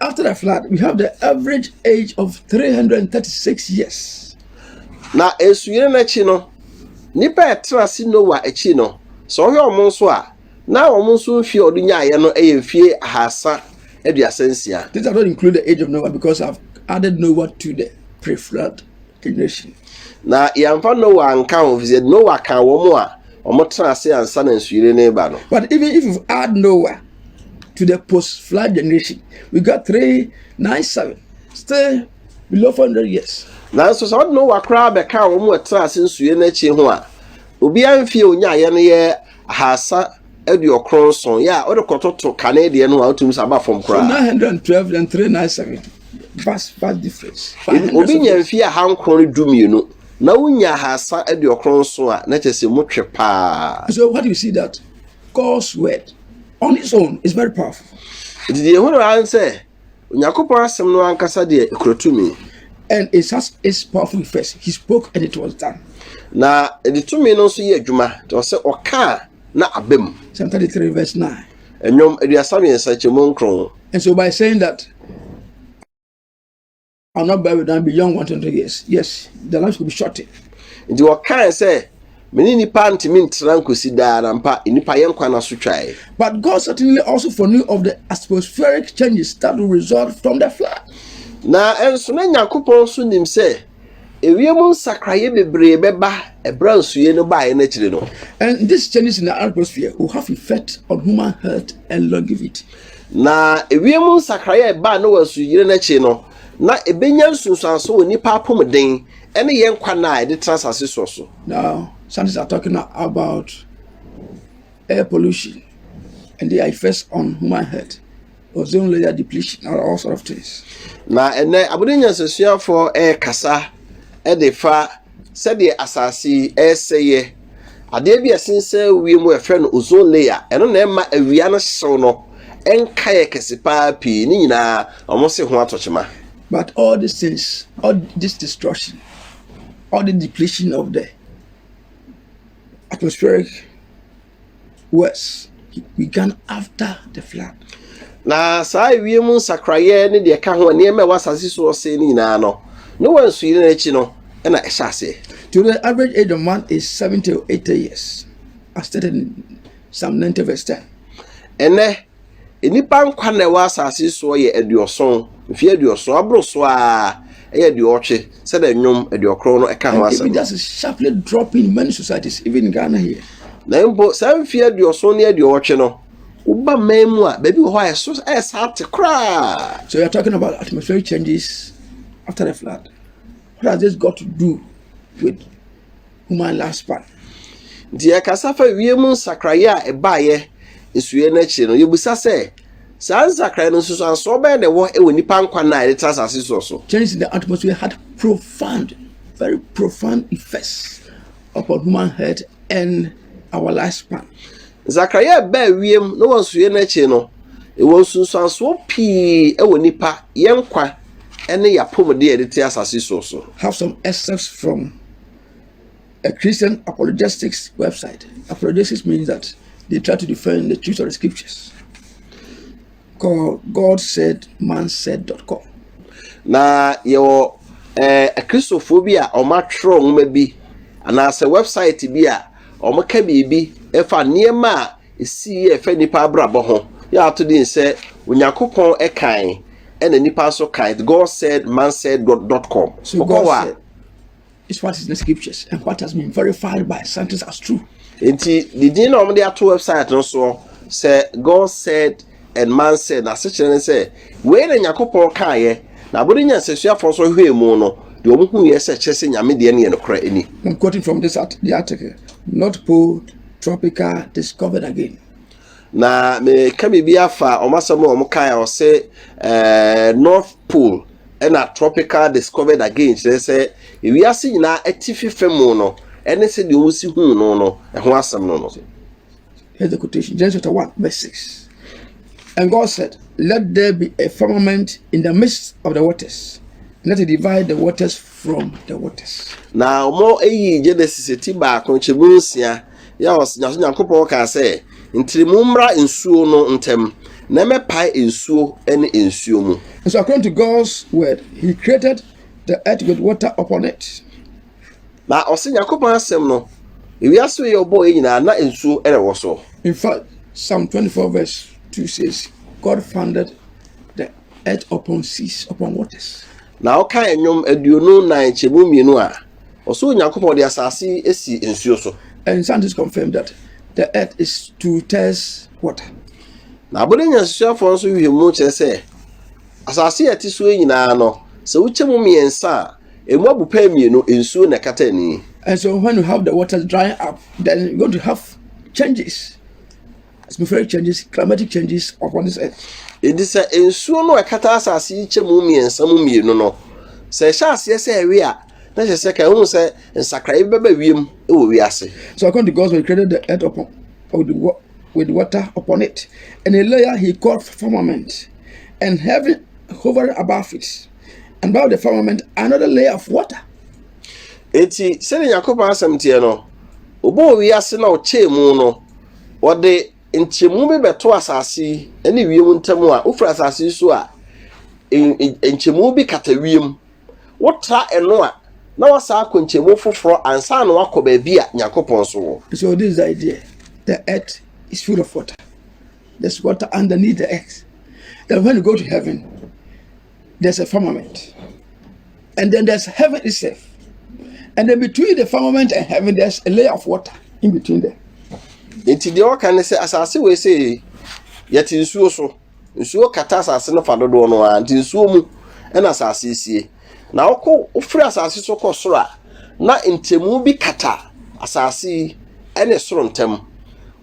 After the flood, we have the average age of 336 years. Na nsuyere no akyi no, nnipa a ɛtena ase Noa akyi no, sɛ ɔhwɛ wɔn nso a, na wɔn nso mfie a wɔde nyaeɛ no yɛ mfie ahasa aduasa nsia. This does not include the age of Noah because I've added Noah to the pre-flood generation. Na yɛmfa Noah nka ho efisɛ Noah ka wɔn a wɔtena ase ansa na nsuyere no reba no. But even if you add Noah to the post flood generation. We got 397, still below 400 years. nanso sɛ ɔde no wa koraa bɛka wɔn a ɛtena ase nsue no akyi ho a obiara mfie a onyaeɛ no yɛ ahasa aduokron nson yɛ a wode kɔtoto kane deɛ no a wotumi sɛ aba fam koraa 912 and 397. Vast, vast difference. By Ebi- hundreds obi of nya years. mfie aha nkron ne du mmienu na wonya ahasa aduokron nson a na kyerɛ sɛ motwe paa So what do you see that God's word on its own is very powerful. Nti deɛ ɛhunu ara sɛ Onyankopɔn asɛm no ankasa deɛ ekura tumi. And it has its powerful effects. He spoke and it was done. Na ɛde tumi no nso yɛ adwuma. Nti ɔsɛ ɔkaa na aba mu. Psalm 33 verse 9. Ɛnwom aduasa mmiɛnsa kyɛ mu nkron. And so by saying that. are not buried down beyond one twenty years. Yes, the life could be shortened. Nti wɔkae sɛ, me ne nipa ntumi ntena nkosi daa na mpa nipa yɛ nkwa n'aso twae. But God certainly also foreknew of the atmospheric changes that will result from the flood. Na nso na Nyankopɔn nso nim sɛ ewiem nsakraeɛ bebree bɛba ɛberɛ nsuye no baeɛ no akyiri no. And these changes in the atmosphere will have effect on human health and longevity. Na ewiem nsakrae a ɛbaa Noa Nsuyiri no akyi no, na ebenya nsunsuanso wɔ nnipa apɔmuden ne yɛn nkwa nna a yɛde tra asase so so. Now, scientists are talking about air pollution and their effects on human health, ozone layer depletion, and all sort of things. Na ɛnɛ, abɔde nyansasuafoɔ ɛrekasa de fa Sɛdeɛ asase yi resɛeɛ. Adeɛ bi a ɛsensɛn wiem a wɔfrɛ no ozone layer, ɛno na ɛma awia no hyew no nka yɛ kɛse pa ara pii. Ne nyinaa, wɔse ho atɔ kyema. But all these things, all this destruction, all this depletion of the atmospheric. Worse, he began after the flood. Na saa ewiem nsakraeɛ ne deɛ ɛka ho a nneɛma a ɛwɔ asase so ɔsɛe no nyinaa no, Noa nsuyiri no akyi no na ɛhyɛ aseɛ. To the average age of man is seventy or eighty years, as stated in Psalm ninety verse ten. Ɛnnɛ, Nnipa nkwa na ɛwɔ asase yi soɔ yɛ aduɔson, mfeɛ aduɔson, aboro so ara ɛyɛ aduɔtwe sɛdeɛ nnwom aduɔkron no ka ho asɛm no. Na mpo saa mfeɛ aduɔson ne aduɔtwe no, woba mmaa mu a, baabi wɔ hɔ a ɛso ayɛ saa te koraa. So you are talking about atmospheric changes after the flood? What has this got to do with Human Lifespan. Nti yɛkasa fa wiem nsakraeɛ a ɛbaeɛ nsuiɛ no akyire no, yɛbisa sɛ, saa nsakraeɛ no nsusuansoɔ bɛyɛ na ɛwɔ wɔ nipa nkwa nna a yɛde tra asase soɔ so? Change in the atmosphere had profound, very profound effects upon human health and our lifespan. Nsakraeɛ a ɛbaa wiem na wɔ nsuiɛ no akyire no, ɛwɔ nsunsuansoɔ pii wɔ nipa, yɛn nkwa, ne yɛn apɔmuden a yɛde te asase soɔ so. Have some excerpts from a Christian apologetics website. Apologetics means that they try to defend the truth of the scriptures. Called God said, man said.com. Na yɛwɔ eh, akristofoɔ bi a wɔatwerɛ nwoma bi anaasɛ website bi a wɔka biribi ɛfa nneɛma a ɛsii yɛ ɛfɛ nnipa abrabɔ ho yɛ ato din sɛ onyankopɔn ɛkan ɛna nnipa nso kan god said man said god dot com so god said, This part is the scriptures and what has been verified by scientists as true. Nti didi na wɔn de ato website no soɔ sɛ God said and man said na asekyerɛ ne sɛ wei na nyakopɔn kaayɛ na abɔde nya nsɛsuafoɔ nso hwɛ mu no deɛ wɔn hu yɛ sɛ kyerɛ sɛ nyame deɛ no yɛ nokorɛ ɛni. I'm quoting from this art, the article North Pole Tropical Discovered Again. Na meka biribi afa wɔn asɛm a wɔn kaayɛ ɔsɛ eh, North Pole. Ɛnna Tropical Discovered Again kyerɛ sɛ wiase nyinaa atifi fam no ne sɛdeɛ wɔsi huu no no ho asɛm no no. Here's the quotation Genesis chapter 1, verse 6. And God said, Let there be a firmament in the midst of the waters, and let it divide the waters from the waters. Na wɔn eyi Genesis ti baako nkyɛmu nsia Yɛ ɔs Nyaso Nyankopɔn kaa sɛ, Ntrɛmu mmra nsuo no ntam, na ɛmmɛpae nsuo ne nsuo mu. And so according to God's word, He created the earth with water upon it. Na ɔse Nyankopɔn asɛm no, ewiase wei ɔbɔɔ yɛ nyinaa na nsuo na ɛwɔ so. In fact, Psalm 24 verse 2 says, God founded the earth upon seas, upon waters. Na ɔkae nnwom aduonu nnan nkyɛmu mmienu a ɔsoro Nyankopɔn de asase asi nsuo so. And scientists confirm that the earth is two-thirds water. Na abɔde nyansasuafoɔ nso nhwehwɛmu kyerɛ sɛ asase a ɛte so yi nyinaa no, sɛ wokyɛ mu mmiɛnsa a, ɛmu abu pɛɛ mmienu nsuo na ɛkata ani. And so when you have the waters drying up, then you're going to have changes. atmospheric changes, climatic changes upon this earth. Edi sɛ nsuo no a ɛkata asase yi kyɛ mu mmiɛnsa mu mmienu no, sɛ ɛhyɛ aseɛ sɛ ɛwe a, na kyerɛ sɛ ka ɛho sɛ nsakrae bi bɛba wiem wɔ wiase. So according to God's word, he created the earth upon with, with water upon it, and a layer he called firmament, and heaven hovering above it, and above the firmament another layer of water. Eti sɛdeɛ Nyankopɔn asɛm teɛ no, ɔbɔɔ wiase na ɔkyɛɛ mu no, Wɔde nkyɛmu bi bɛto asase yi ne wiem ntam a, wofiri asase yi so a, nkyɛmu bi kata wiem. Wotra ɛno a, na wasan akɔ nkyɛmu foforɔ ansa na wakɔ baabi a Nyankopɔn nso wɔ. So this is the idea, the earth is full of water, there's water underneath the earth, then when you go to heaven, there's a firmament, and then there's heaven itself. And then between the firmament and heaven, there's a layer of water in between them. Nti deɛ ɔka ne sɛ asase wei sɛ yɛte nsuo so nsuo kata asase no fa dodoɔ no ara nti nsuo mu ɛna asase sie na wokɔ wofiri asase so kɔ soro a na ntɛmu bi kata asase ɛne soro ntɛm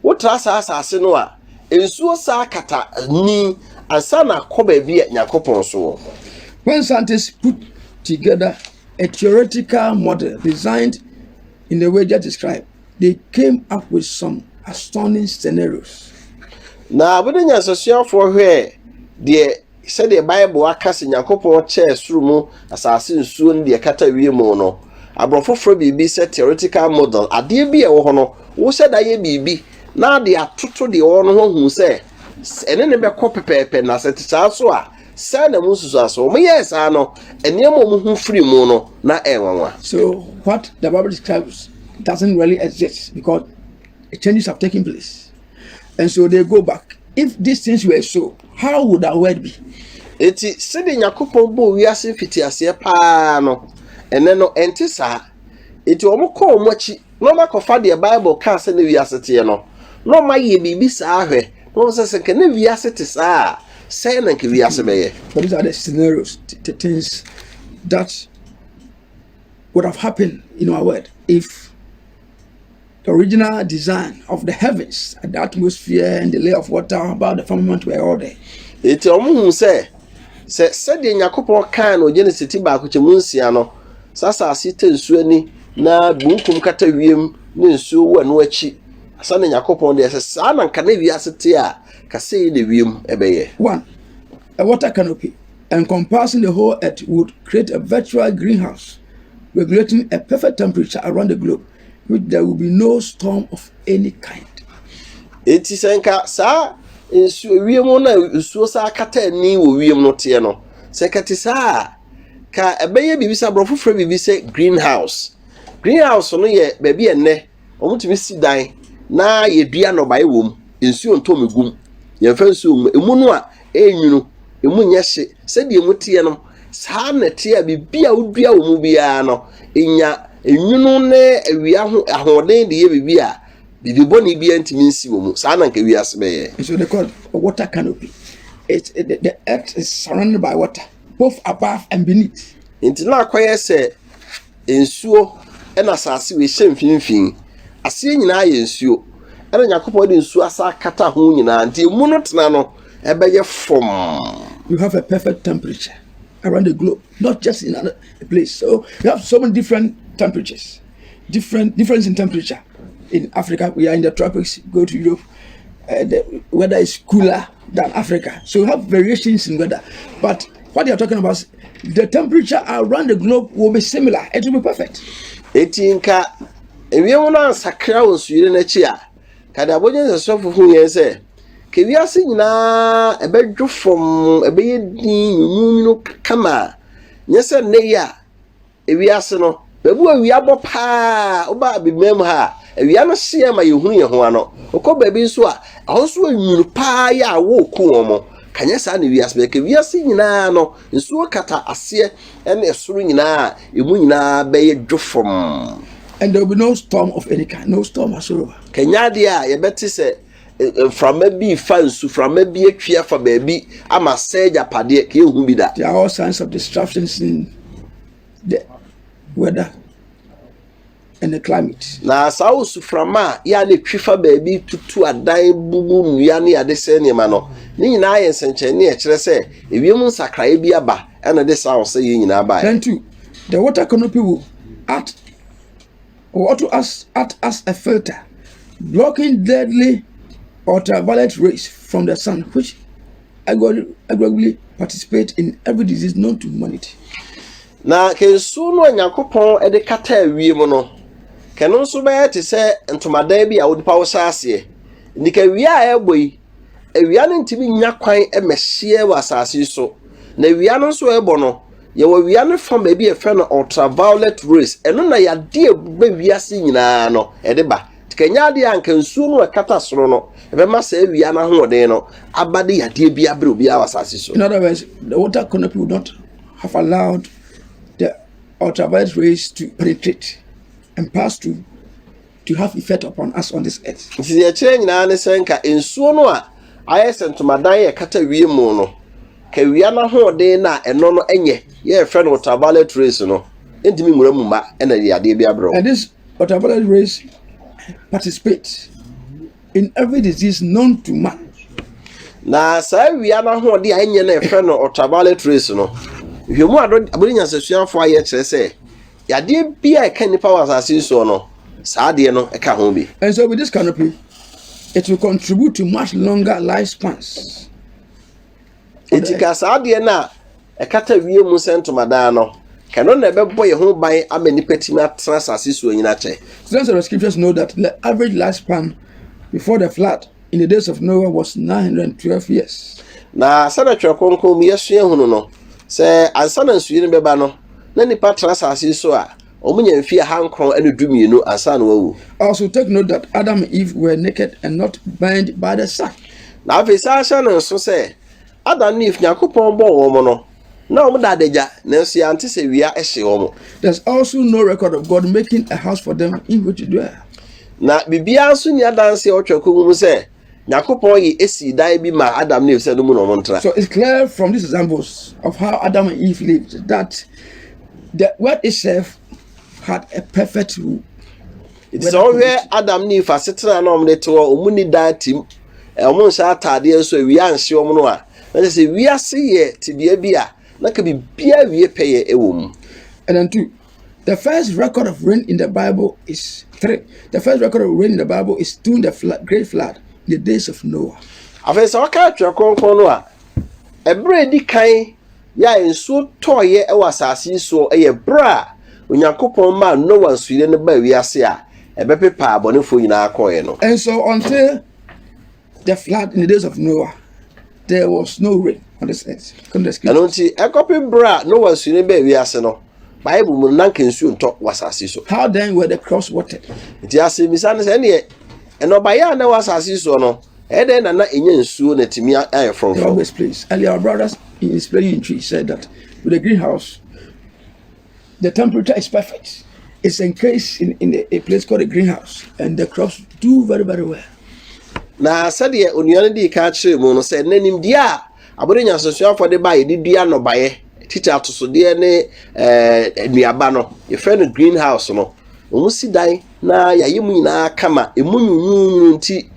wotra saa asase no a Nsuo saa kata ani ansa na akɔ baabi a Nyankopɔn so wɔ. When scientists put together a theoretical model designed in the way just described, they came up with some astounding scenarios. Na bere a nyansasuafoɔ hwɛɛ deɛ Sɛdeɛ Bible aka sɛ Nyankopɔn kyɛɛ soro mu asase nsuo ne deɛ ɛkata wiem no, aborɔfo frɛ biribi sɛ theoretical model, adeɛ bi a ɛwɔ hɔ no, wo sɛ da yɛ biribi na de atoto deɛ ɔwɔ no ho hu sɛ ɛne ne bɛkɔ pɛpɛɛpɛ, na sɛ te saa nso a, saa na mu nsusuaso. Wɔn yɛɛ saa no, nneɛma a wɔn ho firi mu no, na ɛyɛ nwanwa. So what the Bible describes doesn't really exist because changes have taken place. and so they go back if these things were so how would our world be eti sɛde nyakopɔn bɔ wiase fiti aseɛ paa no ɛnɛ no ɛnte saa eti wɔn kɔ wɔn akyi na wɔn akɔfa deɛ bible kaa sɛ ne wiase teɛ no na wɔn ayɛ biribi saa ahwɛ na wɔn sɛ sɛ nka ne wiase te saa a sɛn na nka wiase bɛyɛ but these are the scenarios the, the things that would have happened in our world if The original design of the heavens, the atmosphere, and the layer of water about the firmament were all there. Eti wɔn hu sɛ sɛ sɛdeɛ Nyankopɔn kan no Genesis ti baako kyɛ mu nsia no sɛ asase tɛ nsuo ani na bunkum kata wiem ne nsuo wɔ ɛno akyi asa na Nyankopɔn deɛ sɛ saa na nka na wiase te a kasa yi na wiem ɛbɛyɛ. One, a water canopy encompassing the whole earth would create a virtual greenhouse regulating a perfect temperature around the globe. There will be no storm of any kind. Enti sɛ nka saa nsuo wiem no a nsuo saa kata ani wɔ wiem no teɛ no, sɛ nka te saa a, ka ɛbɛyɛ biribi sɛ aborɔfo frɛ biribi sɛ greenhouse. Greenhouse no yɛ baabi a ɛnnɛ wɔtumi si dan na yɛdua nnɔbaeɛ wɔ mu. Nsuo ntɔ mu gum. Yɛmfa nsuo mu. Emu no a Ɛyɛ nwunu, emu nyɛ hye. Sɛdeɛ emu teɛ no, saa ara na ɛteɛ a biribi a wodua wɔ mu biara no, ɛnya nwunu ne awia ho ahoɔden de yɛ biribi a biribi bɔne biara ntumi nsi wɔ mu. Saa na anka wiase bɛyɛ. So they call it water canopy. It, it, the, the earth is surrounded by water, both above and beneath. Nti na akɔyɛ sɛ Nsuo na asase wei hyɛ mfimfini. Aseɛ nyinaa yɛ nsuo. Ɛna Nyankopɔn de nsuo asa akata ho nyinaa. Nti emu no tena no, ɛbɛyɛ fɔmm. You have a perfect temperature around the globe, not just in another place. So you have so many different temperatures, different difference in temperature. In Africa, we are in the tropics. Go to Europe, uh, the weather is cooler. than Africa. So you have variations in weather. But what you're talking about, the temperature around the globe will be similar. It will be perfect. Eti nka ewiem no ansakra wɔ nsuyiri n'akyi a, kada abɔgye nsɛsofo hu yɛn sɛ, ka wiase nyinaa ɛbɛdwo fam, ɛbɛyɛ din, nwunwunwunu kama, nyɛ sɛ nnɛ yi a Ewiase no, baabi wɔ awia bɔ paa a, woba abibirem mu ha a, awia no hyeɛ ma yɛhunu yɛn ho ano. Wokɔ baabi nso a, ɛhɔ nso yɛ nwunu paa yɛ a wɔreku wɔn. Ka nyɛ saa na wiase bɛyɛ. Ka wiase nyinaa no, nsuo kata aseɛ ne ɛsoro nyinaa a, emu nyinaa bɛyɛ dwofomm. And there will be no storm of any kind, no storm whatsoever. Ka nya adeɛ a yɛbɛte sɛ Mframa bi refa nsu, mframa bi atwi afa baabi ama asɛe agyapadeɛ, ka yɛnhu bi da. There are all signs of disruptions in the weather and the climate. Na saa osuframa a yɛ a na etwi fa baabi tutu adan, bubu nnua ne ade sɛe nneɛma no, ne nyinaa yɛ nsɛnkyerɛnne a ɛkyerɛ sɛ ewiem nsakrae bi aba ɛna ɛde saa ahosɛyɛ nyinaa baeɛ. Then two, the water canopy will act or to as, act as a filter, blocking deadly ultraviolet rays from the sun, which aggressively participate in every disease known to humanity. Na kansu no a Nyankopɔn de kata awie mu no, kɛno nso bɛyɛ te sɛ ntomadan bi a wode paw sa aseɛ. Nti kawia a ɛrebɔ yi, awia no ntumi nya kwan mmɛhyeɛ wɔ asase so, na awia no nso ɛrebɔ no, Yɛwɔ wia no fa baabi a yɛfrɛ no ultraviolet rays. Ɛno na yadeɛ a ɛba wiase nyinaa no ɛde ba. Nti ka ɛnyɛ adeɛ a nka nsuo no a ɛkata soro no ɛbɛma saa wia no ahoɔden no aba de yadeɛ bi abrɛ obiara wɔ asase so. In other words, the water canopy would not have allowed the ultraviolet rays to penetrate and pass through. to have effect upon us on this earth. Nti deɛ ɛkyerɛ nyinaa ne sɛ nka nsuo no a ayɛ sɛ ntomadan yɛ kata wiem mu no, ka wia no ahoɔden no a ɛno no nyɛ yɛ ɛfrɛ no ultraviolet rays no ntumi nwura mu mma ɛna de adeɛ bi abrɛ wo. And this ultraviolet rays participate in every disease known to man. Na saa wia no ahoɔden a ɛnyɛ no ɛfrɛ no ultraviolet rays no, nhwɛmu a abɔde nyansasuafoɔ ayɛ kyerɛ sɛ Yadeɛ biara a ɛka nnipa wɔ asase yi soɔ no, saa adeɛ no ka ho bi. And so with this canopy, it will contribute to much longer lifespans. Eti ka saa adeɛ no a ɛkata wie mu sɛ ntomadan no, ka ɛno na ɛbɛbɔ yɛn ho ban ama nnipa tumi atena asase soɔ nyina kyɛ. Students of the scriptures know that the average lifespan before the flood In the days of Noah was 912 years. Na sɛdeɛ Twerɛ Kronkron mu yɛsua hunu no, sɛ ansa na nsuyiri no bɛba no, na nnipa tena asase so a, wɔnya mfeɛ ahankron ne dumienu ansa na wɔawu. Also take note that Adam and Eve were naked and not burned by the sun. Na afei saa hyɛ no nso sɛ, Adam ne Eve, Nyankopɔn bɔɔ wɔn no, Na wɔn da adagya, nanso yɛante sɛ wia hye wɔn. There's also no record of God making a house for them in which to dwell. Na biribiara nso ni adanse a ɔtwa kɔ mu sɛ Nyankopɔn yi esi dan bi ma Adam ne Eve sɛ no mu na wɔn ntra. So it's clear from these examples of how Adam and Eve lived that the world itself had a perfect rule. Enti sɛ wohwɛ Adam ne Eve asetena a na wɔde te hɔ, wɔn ni dan tim, wɔn nhyɛ ataadeɛ nso awia anhye wɔn no a, na kyerɛ sɛ wiase yɛ tebea bi a na ka biribiara wie pɛyɛ wɔ mu. And then two, the first record of rain in the Bible is three. The first record of rain in the Bible is during the flood, great flood, in the days of Noah. Afei sɛ wɔka atwerɛ kronkron no a, ɛberɛ a ɛdi kan Yɛ a nsuo tɔeɛ wɔ asase yi soɔ yɛ berɛ a Onyankopɔn maa Noa nsuyire no baa wiase a ɛbɛpepaa abɔnefoɔ nyinaa kɔeɛ no. And so until the flood in the days of Noah, there was no rain on this earth. Come the scripture. Ɛno nti ɛkɔpe berɛ a Noa nsuyire no baa wiase no, Bible mu no na nka nsuo ntɔ wɔ asase so. How then were the crops watered? Nti asɛmmisa no sɛ ɛneɛ nnɔbaeɛ a na ɛwɔ asase soɔ no Ɛdɛn na na enya nsuo na atumi ayɛ frɔmfrɔm? Na sɛdeɛ onua no dii kan kyerɛɛ mu no, sɛ nnɛ nimdeɛ a abɔde nyansahuafoɔ de ba a yɛde dua nnɔbaeɛ, tete atosodeɛ ne nnuaba no, yɛfrɛ no greenhouse no, wɔsi dan na yɛayɛ mu nyinaa kama. Emu nwunwunwunu nti,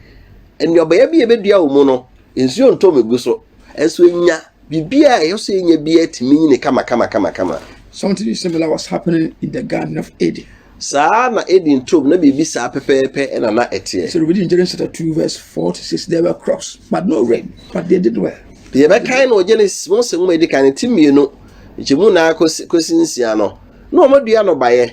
nnuabɔeɛ bi a yɛbɛdua wɔ mu no, nsuo ntɔ mu gu so. Nso enya biribi a ɛyɛ sɛ enya bi atumi nyini kama kama kama kama. Something similar was happening in the garden of Eden. Saa na Eden turom na biribi saa pɛpɛɛpɛ na na ɛteɛ. So reading Genesis chapter two verse four to six there were crops but no rain but they did well. Yɛbɛkan no wɔ Genesis mu sɛ nwoma edi kan ne ti mmienu nkyɛmu nan kɔsi nsia no na wɔn adua no baeɛ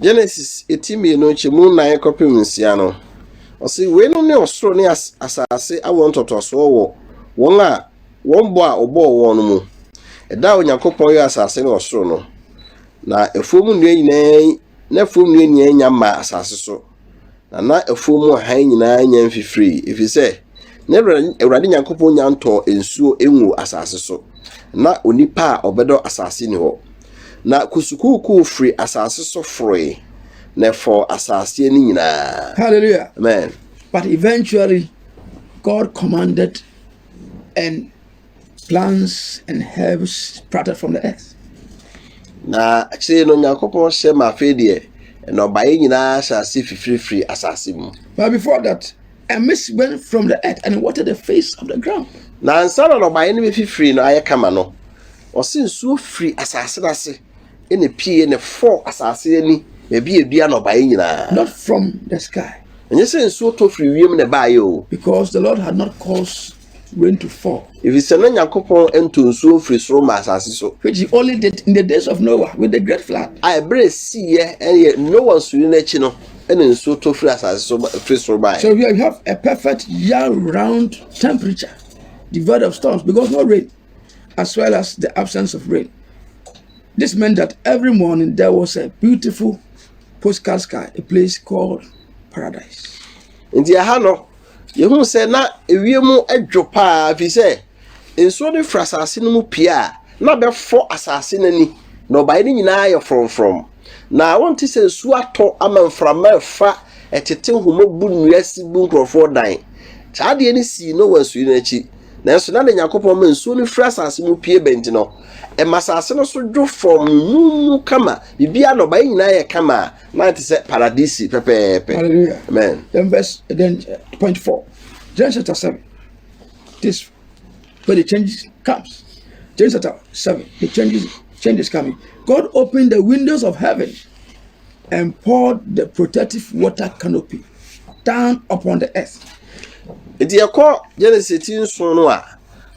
Genesis eti mmienu nkyɛmu nnan kɔpem nsia no, ɔse, Weinom ne ɔsoro ne asase awoɔ ntɔtɔsoɔ wɔ wɔn a wɔn bɔ a ɔbɔɔ wɔn no mu. Ɛda a Onyankopɔn yɔɔ asase ne ɔsoro no, na afuom nnua nyinaa na afuom nnua nyinaa nya mmaa asase so. Na na afuo mu hann nyinaa nya mfifirii, ɛfiri sɛ na Awurade Nyankopɔn nya ntɔɔ nsuo nguu asase so, na onipa a ɔbɛdɔ asase ni hɔ. Na kusukuukuu firi asase so foroe, na ɛfɔɔ asase ani nyinaa. Hallelujah. Amen. But eventually, God commanded and Plants and herbs sprouted from the earth. Na akyire no Nyankopɔn hyɛ ma afei deɛ nnɔbaeɛ nyinaa hyɛ ase fifirifiri asase mu. But before that, a mist went from the earth and watered the face of the ground. Na ansa na nnɔbaeɛ no bɛfifiri no ayɛ kama no, ɔse nsuo firi asase no ase na pie na ɛfɔɔ asase ani baabi a ɛdua nnɔbaeɛ nyinaa. Not from the sky. Ɛnyɛ sɛ nsuo tɔ firi wiem na ɛbaeɛ o. Because the Lord had not caused rain to fall. Efisɛ na Nyankopɔn ntɔ nsuo mfiri soro mma asase so. Which he only did in the days of Noah with the great flood. A ɛberɛ a ɛsiiɛ ɛyɛ Noa nsuyiri no akyi no ɛna nsuo tɔ firi asase so firi soro baeɛ. So here you have a perfect year round temperature devoid of storms because no rain as well as the absence of rain. This meant that every morning there was a beautiful postcard sky, a place called paradise. Nti ɛha no Yɛhu sɛ na ewiem dwo paa ɛfiri sɛ nsuo no firi asase no mu pue a, na bɛfɔ asase no ani. Nnɔbaeɛ no nyinaa ayɛ frɔmfrɔm. Na wonte sɛ nsuo atɔ ama mframa refa tete nhoma bu nnua si bu nkurɔfoɔ dan. Saa adeɛ no sii Noa nsuyiri no akyi. Nanso na deɛ Nyankopɔn ma nsuo no firi asase mu pue ba nti no, ɛma asase no so dwo fam, nunu kama, biribiara nnɔbaeɛ nyinaa yɛ kama. na ɛte sɛ paradisi pɛpɛɛpɛ hallelujah amen then verse then uh, point four Genesis chapter seven this where the changes comes Genesis chapter seven the changes changes coming God opened the windows of heaven and poured the protective water canopy down upon the earth. nti yɛkɔ genesis ti nson no a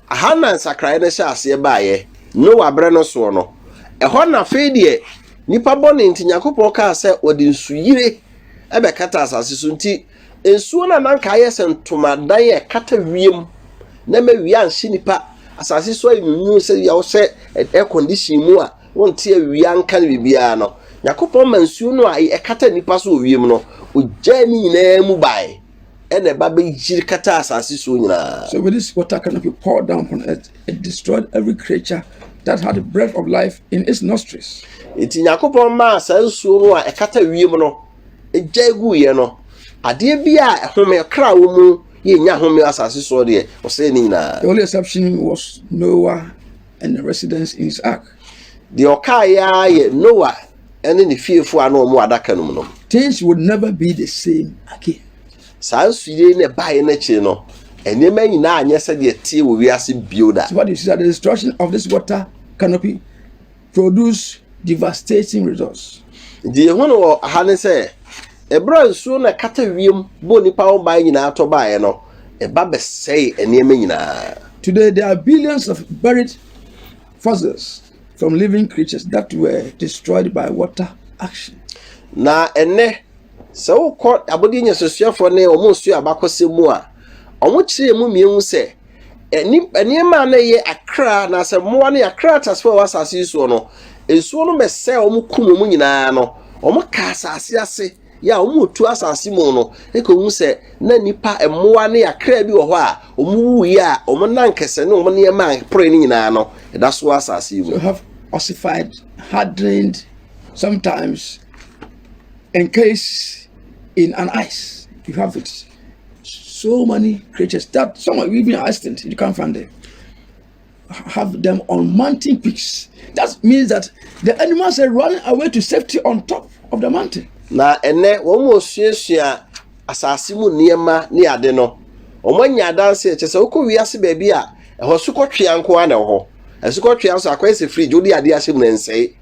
aha na nsakraeɛ no hyɛ aseɛ baeɛ noa berɛ no soɔ no ɛhɔ na afei deɛ Nnipa bɔne nti, Nyankopɔn kaa sɛ wɔde nsuyire bɛkata asase so nti, nsuo no a na anka ayɛ sɛ ntomadan a ɛkata wiem na ɛma awia anhye nnipa, asase so ayɛ nwunwuu sɛ yɛ wohyɛ air condition mu a wonte awia nka no biribiara no, Nyankopɔn ma nsuo no a ɛkata nnipa so wɔ wiem no, ogyaa ne nyinaa mu bae. ɛna ɛba bɛyiri kata asase soɔ nyinaa. So with this water canopy poured down upon earth, it destroyed every creature that had the breath of life in its nostrils. Eti Nyankopɔn maa saa nsuo no a ɛkata wiem no gya eguiɛ no adeɛ bi a ɛhome kra wɔ mu yɛ nya home asase soɔ deɛ ɔsɛe ne nyinaa. The only exception was Noah and a residence in his ark. Deɛ ɔkaeɛ ara yɛ Noa ne ne fiefoɔ a na wɔn wɔ adaka no mu no. Things would never be the same again. Saa nsuiɛ yi na ɛbaeɛ no akyiri no, nneɛma nyinaa anyɛ sɛdeɛ ɛteɛ wɔ wiase bio da. So what you see that the destruction of this water canopy produce devastating results. Deɛ ɛho no wɔ ha ne sɛ Bere a nsuo no a ɛkata wiem bɔ nnipa ho ban nyinaa tɔ baeɛ no, ɛba bɛsɛee nneɛma nyinaa. Today there are billions of buried fossils from living creatures that were destroyed by water action. Na ɛnnɛ, sɛ wokɔ abɔdeɛ nyansasuafoɔ ne wɔn nsuo abakɔsɛm mu a, wɔkyerɛ emu mmienu sɛ nneɛma a na ɛyɛ akra anaasɛ mmoa ne akra atasefo a ɛwɔ asase yi soɔ no nsuo no bɛsɛ wɔn kum wɔn nyinaa no wɔn ka asase ase yɛ a wɔn tu asase mu no ɛka wɔn sɛ na nipa mmoa ne akra bi wɔ hɔ a wɔn wu yɛ a wɔn nan kɛse ne wɔn nneɛma a ɛpore no nyinaa no ɛda so asase yi mu. So have ossified, hardened, sometimes encased in an ice. You have it. so many creatures that some are even extinct. You can't find them. Have them on mountain peaks. That means that the animals are running away to safety on top of the mountain. Na ɛnɛ wɔn mu osuasua asase mu nneɛma ne ade no wɔn anya adanse ɛkyɛ sɛ wokɔ wiase baabi a ɛhɔ sukɔtwea nko ara na ɛwɔ hɔ asukɔtwea nso akɔyɛ sɛ fridge wode adeɛ ahyɛ mu na nsɛe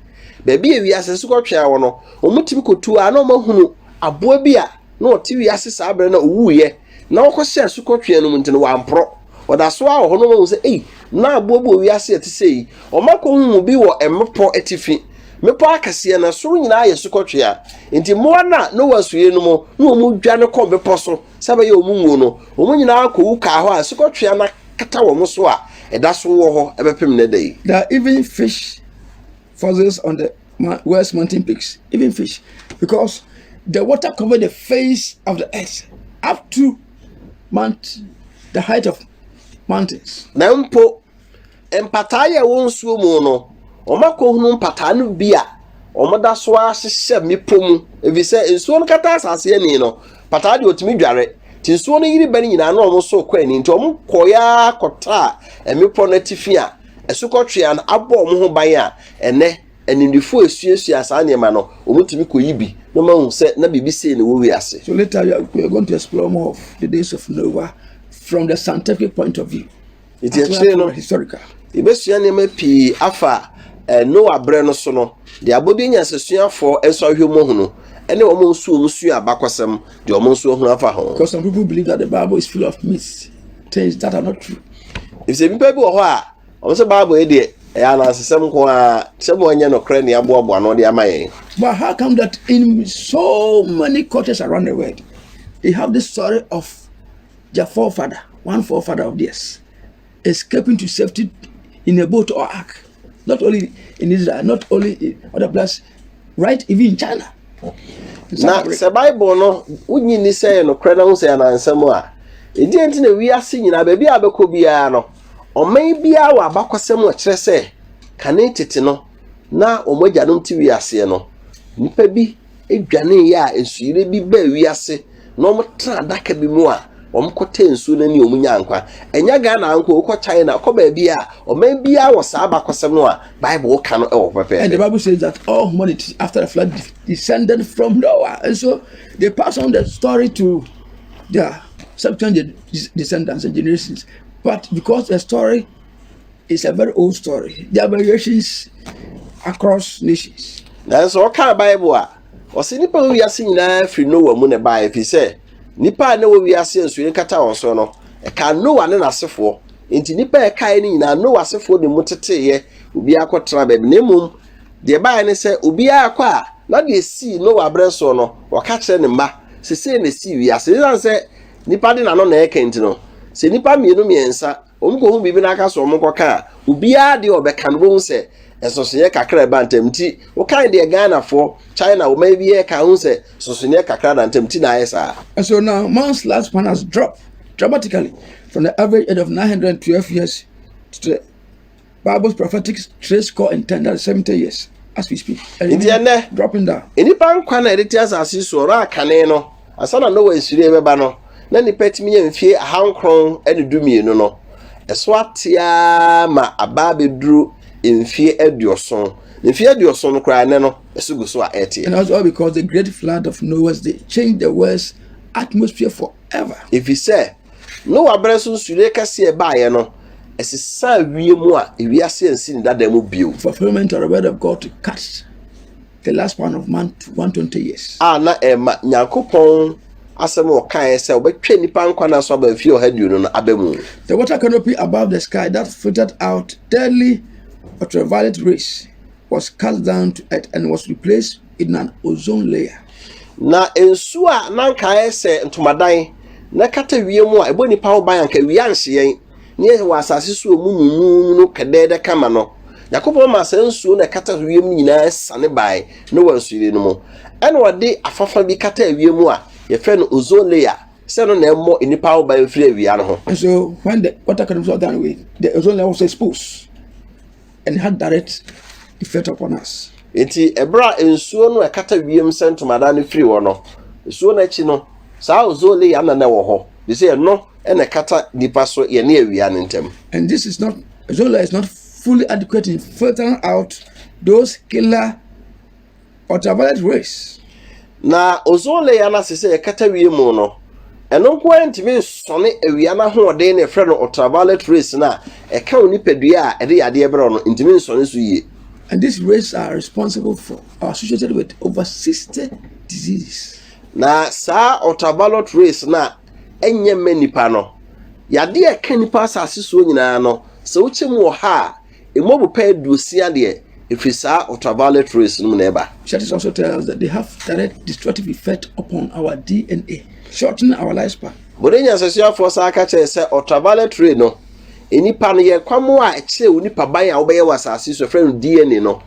baabi a wiase asukɔtwea wɔ no wɔn tumi kɔtu a na wɔn ahunu aboa bi a Na ɔte wiase saa berɛ no a ɔwuiɛ, na wɔkɔhyɛɛ asukɔtweaa no mu nti no, wamporɔ. Ɔda so ara wɔ hɔ na wɔahu sɛ, Ei, na aboaboa wiase a ɛte sɛi! Ɔma kɔhu mu bi wɔ mmepɔ atifi, mmepɔ akɛseɛ no soro nyinaa yɛ asukɔtweaa. Enti mmoa no a na wɔasuie no mu na wɔdwane kɔ mmepɔ so sɛ ɛbɛyɛ wɔn nwuo no, wɔn nyinaa kɔwu kaa hɔ a asukɔtweaa no akata wɔn so a ɛda so wɔ hɔ bɛpem nnɛ da yi. Na even fish. fossils on the west mountain peaks, even fish, because the water covered the face of the earth up to mount, the height of mountains. Na mpo mpataa yɛ wɔn nsuo mu no, wɔn akɔhunu mpataa no bi a wɔn da so ahyehyɛ mmepɔ mu, ebi sɛ nsuo no kata asase ani no, pataa deɛ otumi dware. Ti nsuo no yiri bɛ no nyinaa na wɔn so kɔ ani nti wɔn kɔyaa kɔtaa mmepɔ no atifi a Asukɔtweaa no abɔ wɔn ho ban a, ɛnnɛ animdefo a esuasua saa nneɛma no, wɔtumi koyi bi na wɔahu sɛ na biribi sei na ɛwɔ wiase. So later we are, we are going to explore more of the days of Noah from the scientific point of view. Nti akyire no, yɛbɛsua nneɛma pii afa eh, Noah berɛ no so no, deɛ abɔdeɛ nyansasuafoɔ nso ahwɛ mu ahunu ɛne wɔn nso wɔn sua abakɔsɛm deɛ wɔn nso ahunu afa ho. Because some people believe that the Bible is full of myths. things that are not true efisɛ nnipa bi wɔ hɔ a wɔn sɛ bible yi deɛ ɛyɛ anansesɛm nko ara sɛ mo anyɛ nokorɛ ne aboaboa no de ama yɛn. but how come that in so many cultures around the world they have this story of their forefather one forefather of theirs escaping to safety in a boat or ark not only in israel not only in other places right even in china. na sɛ bible no wonyi ni sɛ yɛ nokorɛ na ho sɛ yɛ nansɛm a ɛdeɛ nti na wiase nyinaa baabi a bɛkɔ biara no ɔman biara wɔ abakɔsɛm a kyerɛ sɛ kane tete no na wɔn agyanom te wiaseɛ no nnipa bi dwane yɛ a nsuyire bi baa wiase na wɔtra adaka bi mu a wɔkɔtɛɛ nsuo no ani a wɔnyaa nkwa. Ɛnyɛ Ghana nko, wokɔ China, kɔ baabi a ɔman biara wɔ saa abakɔsɛm no a Bible ka no wɔ hɔ pɛpɛɛpɛ. And the Bible says that all humanity after the flood descended from Noah. And so they pass on the story to their subsequent descendants and generations. But because the story It's a very old story. There are variations across nations. Nanso ɔkaa Bible a, ɔse nipa wɔ wiase nyinaa firi Noa mu na ɛbaa ɛfiri sɛ nipa a na wɔ wiase nsuo nkata wɔn so no, ɛka Noa ne n'asefoɔ. Nti nipa a ɛkaeɛ no nyinaa Noa asefoɔ de mu teteeɛ, obiara kɔtena baabi. Na mmom deɛ ɛbaeɛ ne sɛ obiara kɔ a na deɛ ɛsii Noa aberɛ soɔ no, ɔka kyerɛ ne mma sɛ sei na ɛsii wiase. Ɛsiane sɛ nipa de n'ano na ɛka nti no, sɛ nipa mmienu mmiɛnsa wɔkɔhu biribi na aka so wɔkɔka a obiara deɛ ɔbɛka no bɛhu sɛ nsonsonoeɛ kakra ɛba ntam nti wokan deɛ ghanafoɔ china wɔn ayi bi yɛ ka ho sɛ nsonsonoeɛ kakra da ntam nti na ayɛ saa. and so now man's lifespan has dropped dramatically from the average age of 912 years to the Bible prophetic three score and ten that is seventy years as we speak. Nti ɛnɛ dropping down. Nnipa nkwa na yɛde te asase so ɔrɔ akane no asa na Noa nsiri bɛba no na nnipa tumi yɛ mfie ahankron ne du mmienu no ɛso ateaa ma aba abɛduru mfie aduoson mfie aduoson no koraa ɛnɛ no ɛso gu so a ɛteɛ. And also because the great flood of Noah's day changed the world's atmosphere forever. Efisɛ Noa bere so nsuyiri kɛse a ɛbaeɛ no, ɛsesaa wiem a ewiase ansi ne dada mu bio. Fulfillment of the word of God to cut the last one of man to 120 years. A na ɛma Nyankopɔn asɛm a ɔkaeɛ sɛ ɔbɛtwa nnipa nkwa no aso aba mfeɛ ɔha aduonu no aba mu. The water canopy above the sky that filtered out deadly ultraviolet rays was cast down to earth and was replaced inan ozone layer. Na nsu a na anka ayɛ sɛ ntomadan na ɛkata wiem a ɛbɔ nnipa ho ban anka awia anhye yɛn, na yɛwɔ asase so a emu nwunwunwunu no kɛdɛɛdɛ kama no, Nyankopɔn maa saa nsuo no a ɛkata wiem no nyinaa siane bae Noa nsuyiri no mu. Ɛna ɔde afãfã bi kataa wiem a yɛfrɛ no ozone layer sɛ ɛno na ɛmmɔ nnipa ho ban mfiri awia no ho. And so when the water columns were done with, the ozone layer was exposed. and had direct effect upon us. Enti ɛberɛ a nsuo no ɛkata wiem sɛ ntomadan no firi hɔ no, nsuo no akyi no, saa ozone layer no na ɛwɔ hɔ, de sɛ ɛno na ɛkata nipa so yɛne awia no ntam. And this is not, ozone layer is not fully adequate in filtering out those killer ultraviolet rays. Na ozone layer no ase sɛ ɛkata wiem no, ɛno nko ara ntumi nsɔne awia no ahoɔden na ɛfrɛ no ultraviolet rays no a ɛka wo nipadua a ɛde yadeɛ brɛ wo no ntumi nsɔne so yie. And these rays are responsible for or associated with over 60 diseases. Na saa ultraviolet rays no a ɛnyɛ mma nipa no, yadeɛ a ɛka nipa asase soɔ nyinaa no, sɛ wokyɛ mu wɔ ha a, Emu ɔbopɛ aduosia deɛ ɛfiri saa ultraviolet rays no mu na ɛba. Research also tells us that they have direct destructive effect upon our DNA, shortening our lifespan. Bode nyansahyɛfoɔ san ka kyerɛɛ sɛ ultraviolet ray no, nnipa no yɛ kwammoa a ɛkyerɛ wo nipaban a wobɛyɛ wɔ asase so, ɛfrɛ no DNA no,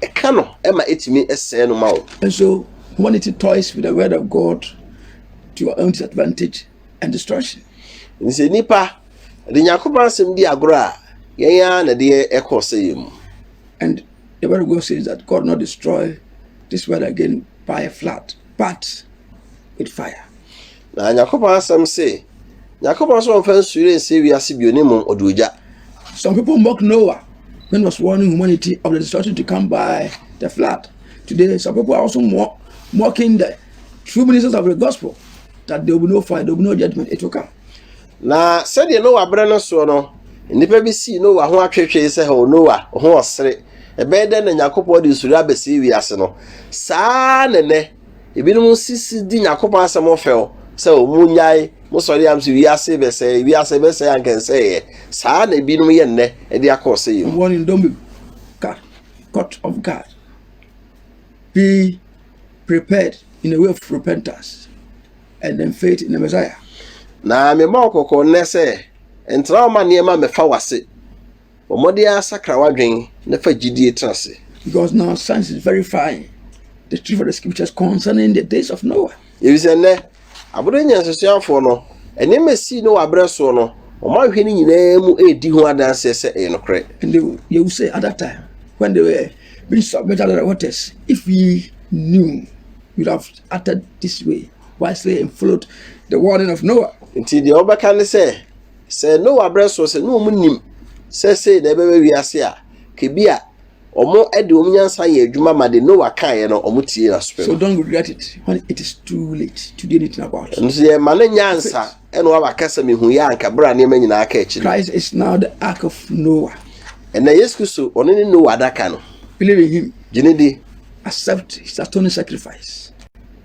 ɛka no ma ɛtumi sɛe no ma wo. And so humanity toys with the word of God to your own disadvantage and destruction. Nti sɛ nnipa Yɛde Nyankopɔn asɛm di agorɔ a, yɛn ara na ɛde yɛn kɔ ɔsɛeɛ mu. And the word of God says that God not destroy this world again by a flood, but with fire. Na Nyankopɔn asɛm se, Nyankopɔn nso ɔmfa nsuyire nsie wiase bio ne mmom ɔde ogya. Some people mock Noah when he was warning humanity of the destruction to come by the flood. Today, some people are also mock, mocking the true ministers of the gospel that there will be no fire, there will be no judgment, it will come. Na sɛdeɛ Noa berɛ no soɔ no, nnipa bi sii Noa ho atwetwee sɛ, O Noa, wo ho ɔsere! Ɛbɛyɛ dɛn na Nyankopɔn de nsuro abɛsɛe wiase no? Saa ara na nnɛ, ebinom sisi di Nyankopɔn asɛm ho fɛw sɛ, O monnyae, mo sɔre am sɛ wiase rebɛsɛe, wiase rebɛsɛe anka ɛnsɛeɛ. Saa ara na ebinom yɛ nnɛ de akɔ ɔsɛeɛ mu. Wɔn dɔ mu ka Court of God, Be Prepared in a Way of Repentance. and then faith in the Messiah. Na mebɔ wo kɔkɔ nnɛ sɛ, ntena wo ma nneɛma mmɛfa w'ase. Bɔ mmɔden ara sakra w'adwene na fa gyidie tena ase. Because now science is verifying the truth of the scriptures concerning the days of Noah. Efisɛ nnɛ, abodoo nyansasoafoɔ no, nneɛma esii no wɔ abrɛ soɔ no, wɔn ahwɛ no nyinaa mu redi ho adanseɛ sɛ ɛyɛ nokorɛ. And they, they will say at that time, when they were being submerged under the waters, if we knew, we would have uttered this way wisely and followed the warning of Noah. Nti deɛ wɔbɛka ne sɛ, sɛ Noah berɛ soɔ sɛ na wɔn nim sɛ sei na ɛbɛba wiase a, kebi a wɔn de wɔn nyansa yɛ adwuma ma de Noah kaeɛ no wɔn tie n'asopɛ mu. So don't regret it when it is too late to do anything about it. Ɛno nso yɛ ma no nyansa. Ɛna wa waka sɛ mehu yɛ anka bere a nneɛma nyinaa ka akyi no. Christ is now the ark of Noah. Ɛna Yesu Kristo ɔno ne Noah adaka no. Believe in him. Gyene di. Accept his atoning sacrifice.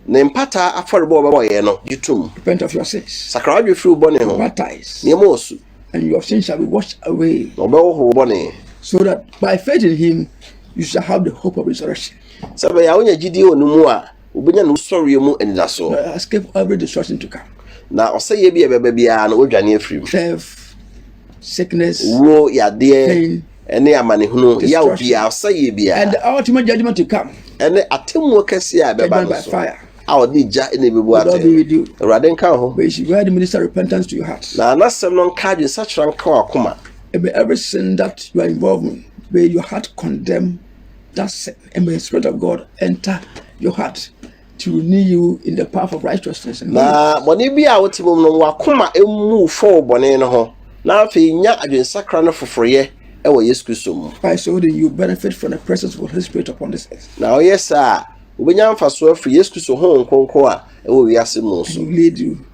Ne mpata afɔrebɔ a ɔbɛbɔ yɛ no gye tom. Repent of your sins. Sakra wadwe firi wo bɔne ho. Baptize. Nneɛma wɔ su. And your sins shall be washed away. Na ɔbɛhohoro bɔne. So that by faith in him you shall have the hope of resurrection. Sɛ bɛyɛ a wonya gyidie wɔ ne mu a. Wobenya ne wusɔreɛ mu anidasoɔ. Na escape every destruction to come. Na ɔsɛeɛ bi a ɛbɛba biara no, wɔadwane afiri mu. Theft, sickness, wuo, yadeɛ, pain, ne amanehunu, yaw biara, ɔsɛeɛ biara. And the ultimate judgment to come. Ɛne atemmuo kɛseɛ a ɛbɛba no so. Judgment by fire. a ɔde gya na ebebu atɛn. Awurade nka wo ho. May his word minister repentance to your heart. Na n'asɛm no nka adwene sakyera nka w'akoma. May every sin that you are involved in, may your heart condemn Thus may the Spirit of God enter your heart to renew you in the path of righteousness. Na bɔne bi a wote mu no wakoma emu fɔ wo bɔne no ho na afei nya adwensakra no foforoyɛ wɔ Yesu Kristo mu. By so doing you benefit from the presence of the Holy Spirit upon this earth. Na ɔyɛ saa a wobɛnya mfasoɔ afiri Yesu Kristo Honhom Kronkron a ɛwɔ wiase mu so. And he will lead you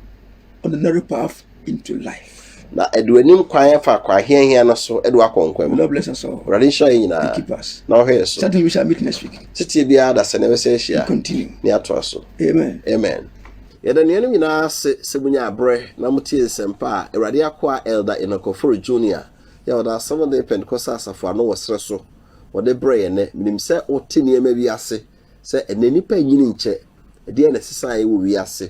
on the narrow path into life. Na ɛde w'anim kwan fa akwan hiahia no so de wakɔ nkwa mu. The Lord bless us all. Awurade nhyira yɛn nyinaa. He keep us. Na ɔhwɛ yɛn so. Certainly we shall meet next week. Tete biara da sɛ na ɛbɛsɛ ahyia. Continue. Ne atoa so. Amen. Amen. Yɛda nuanom nyinaa ase sɛ munya abrɛ na motie nsɛmpa a Awurade akoa Elder Enoch Ofori Junior yɛ ɔda Asɛm Day Pentecostal Asafo ano wɔ serɛ so wɔde brɛ yɛn nnɛ. Menim sɛ wote nneɛma bi ase sɛ ɛnnɛ nnipa nnyini nkyɛ. Ɛdeɛn na ɛsesa yɛ wɔ wiase?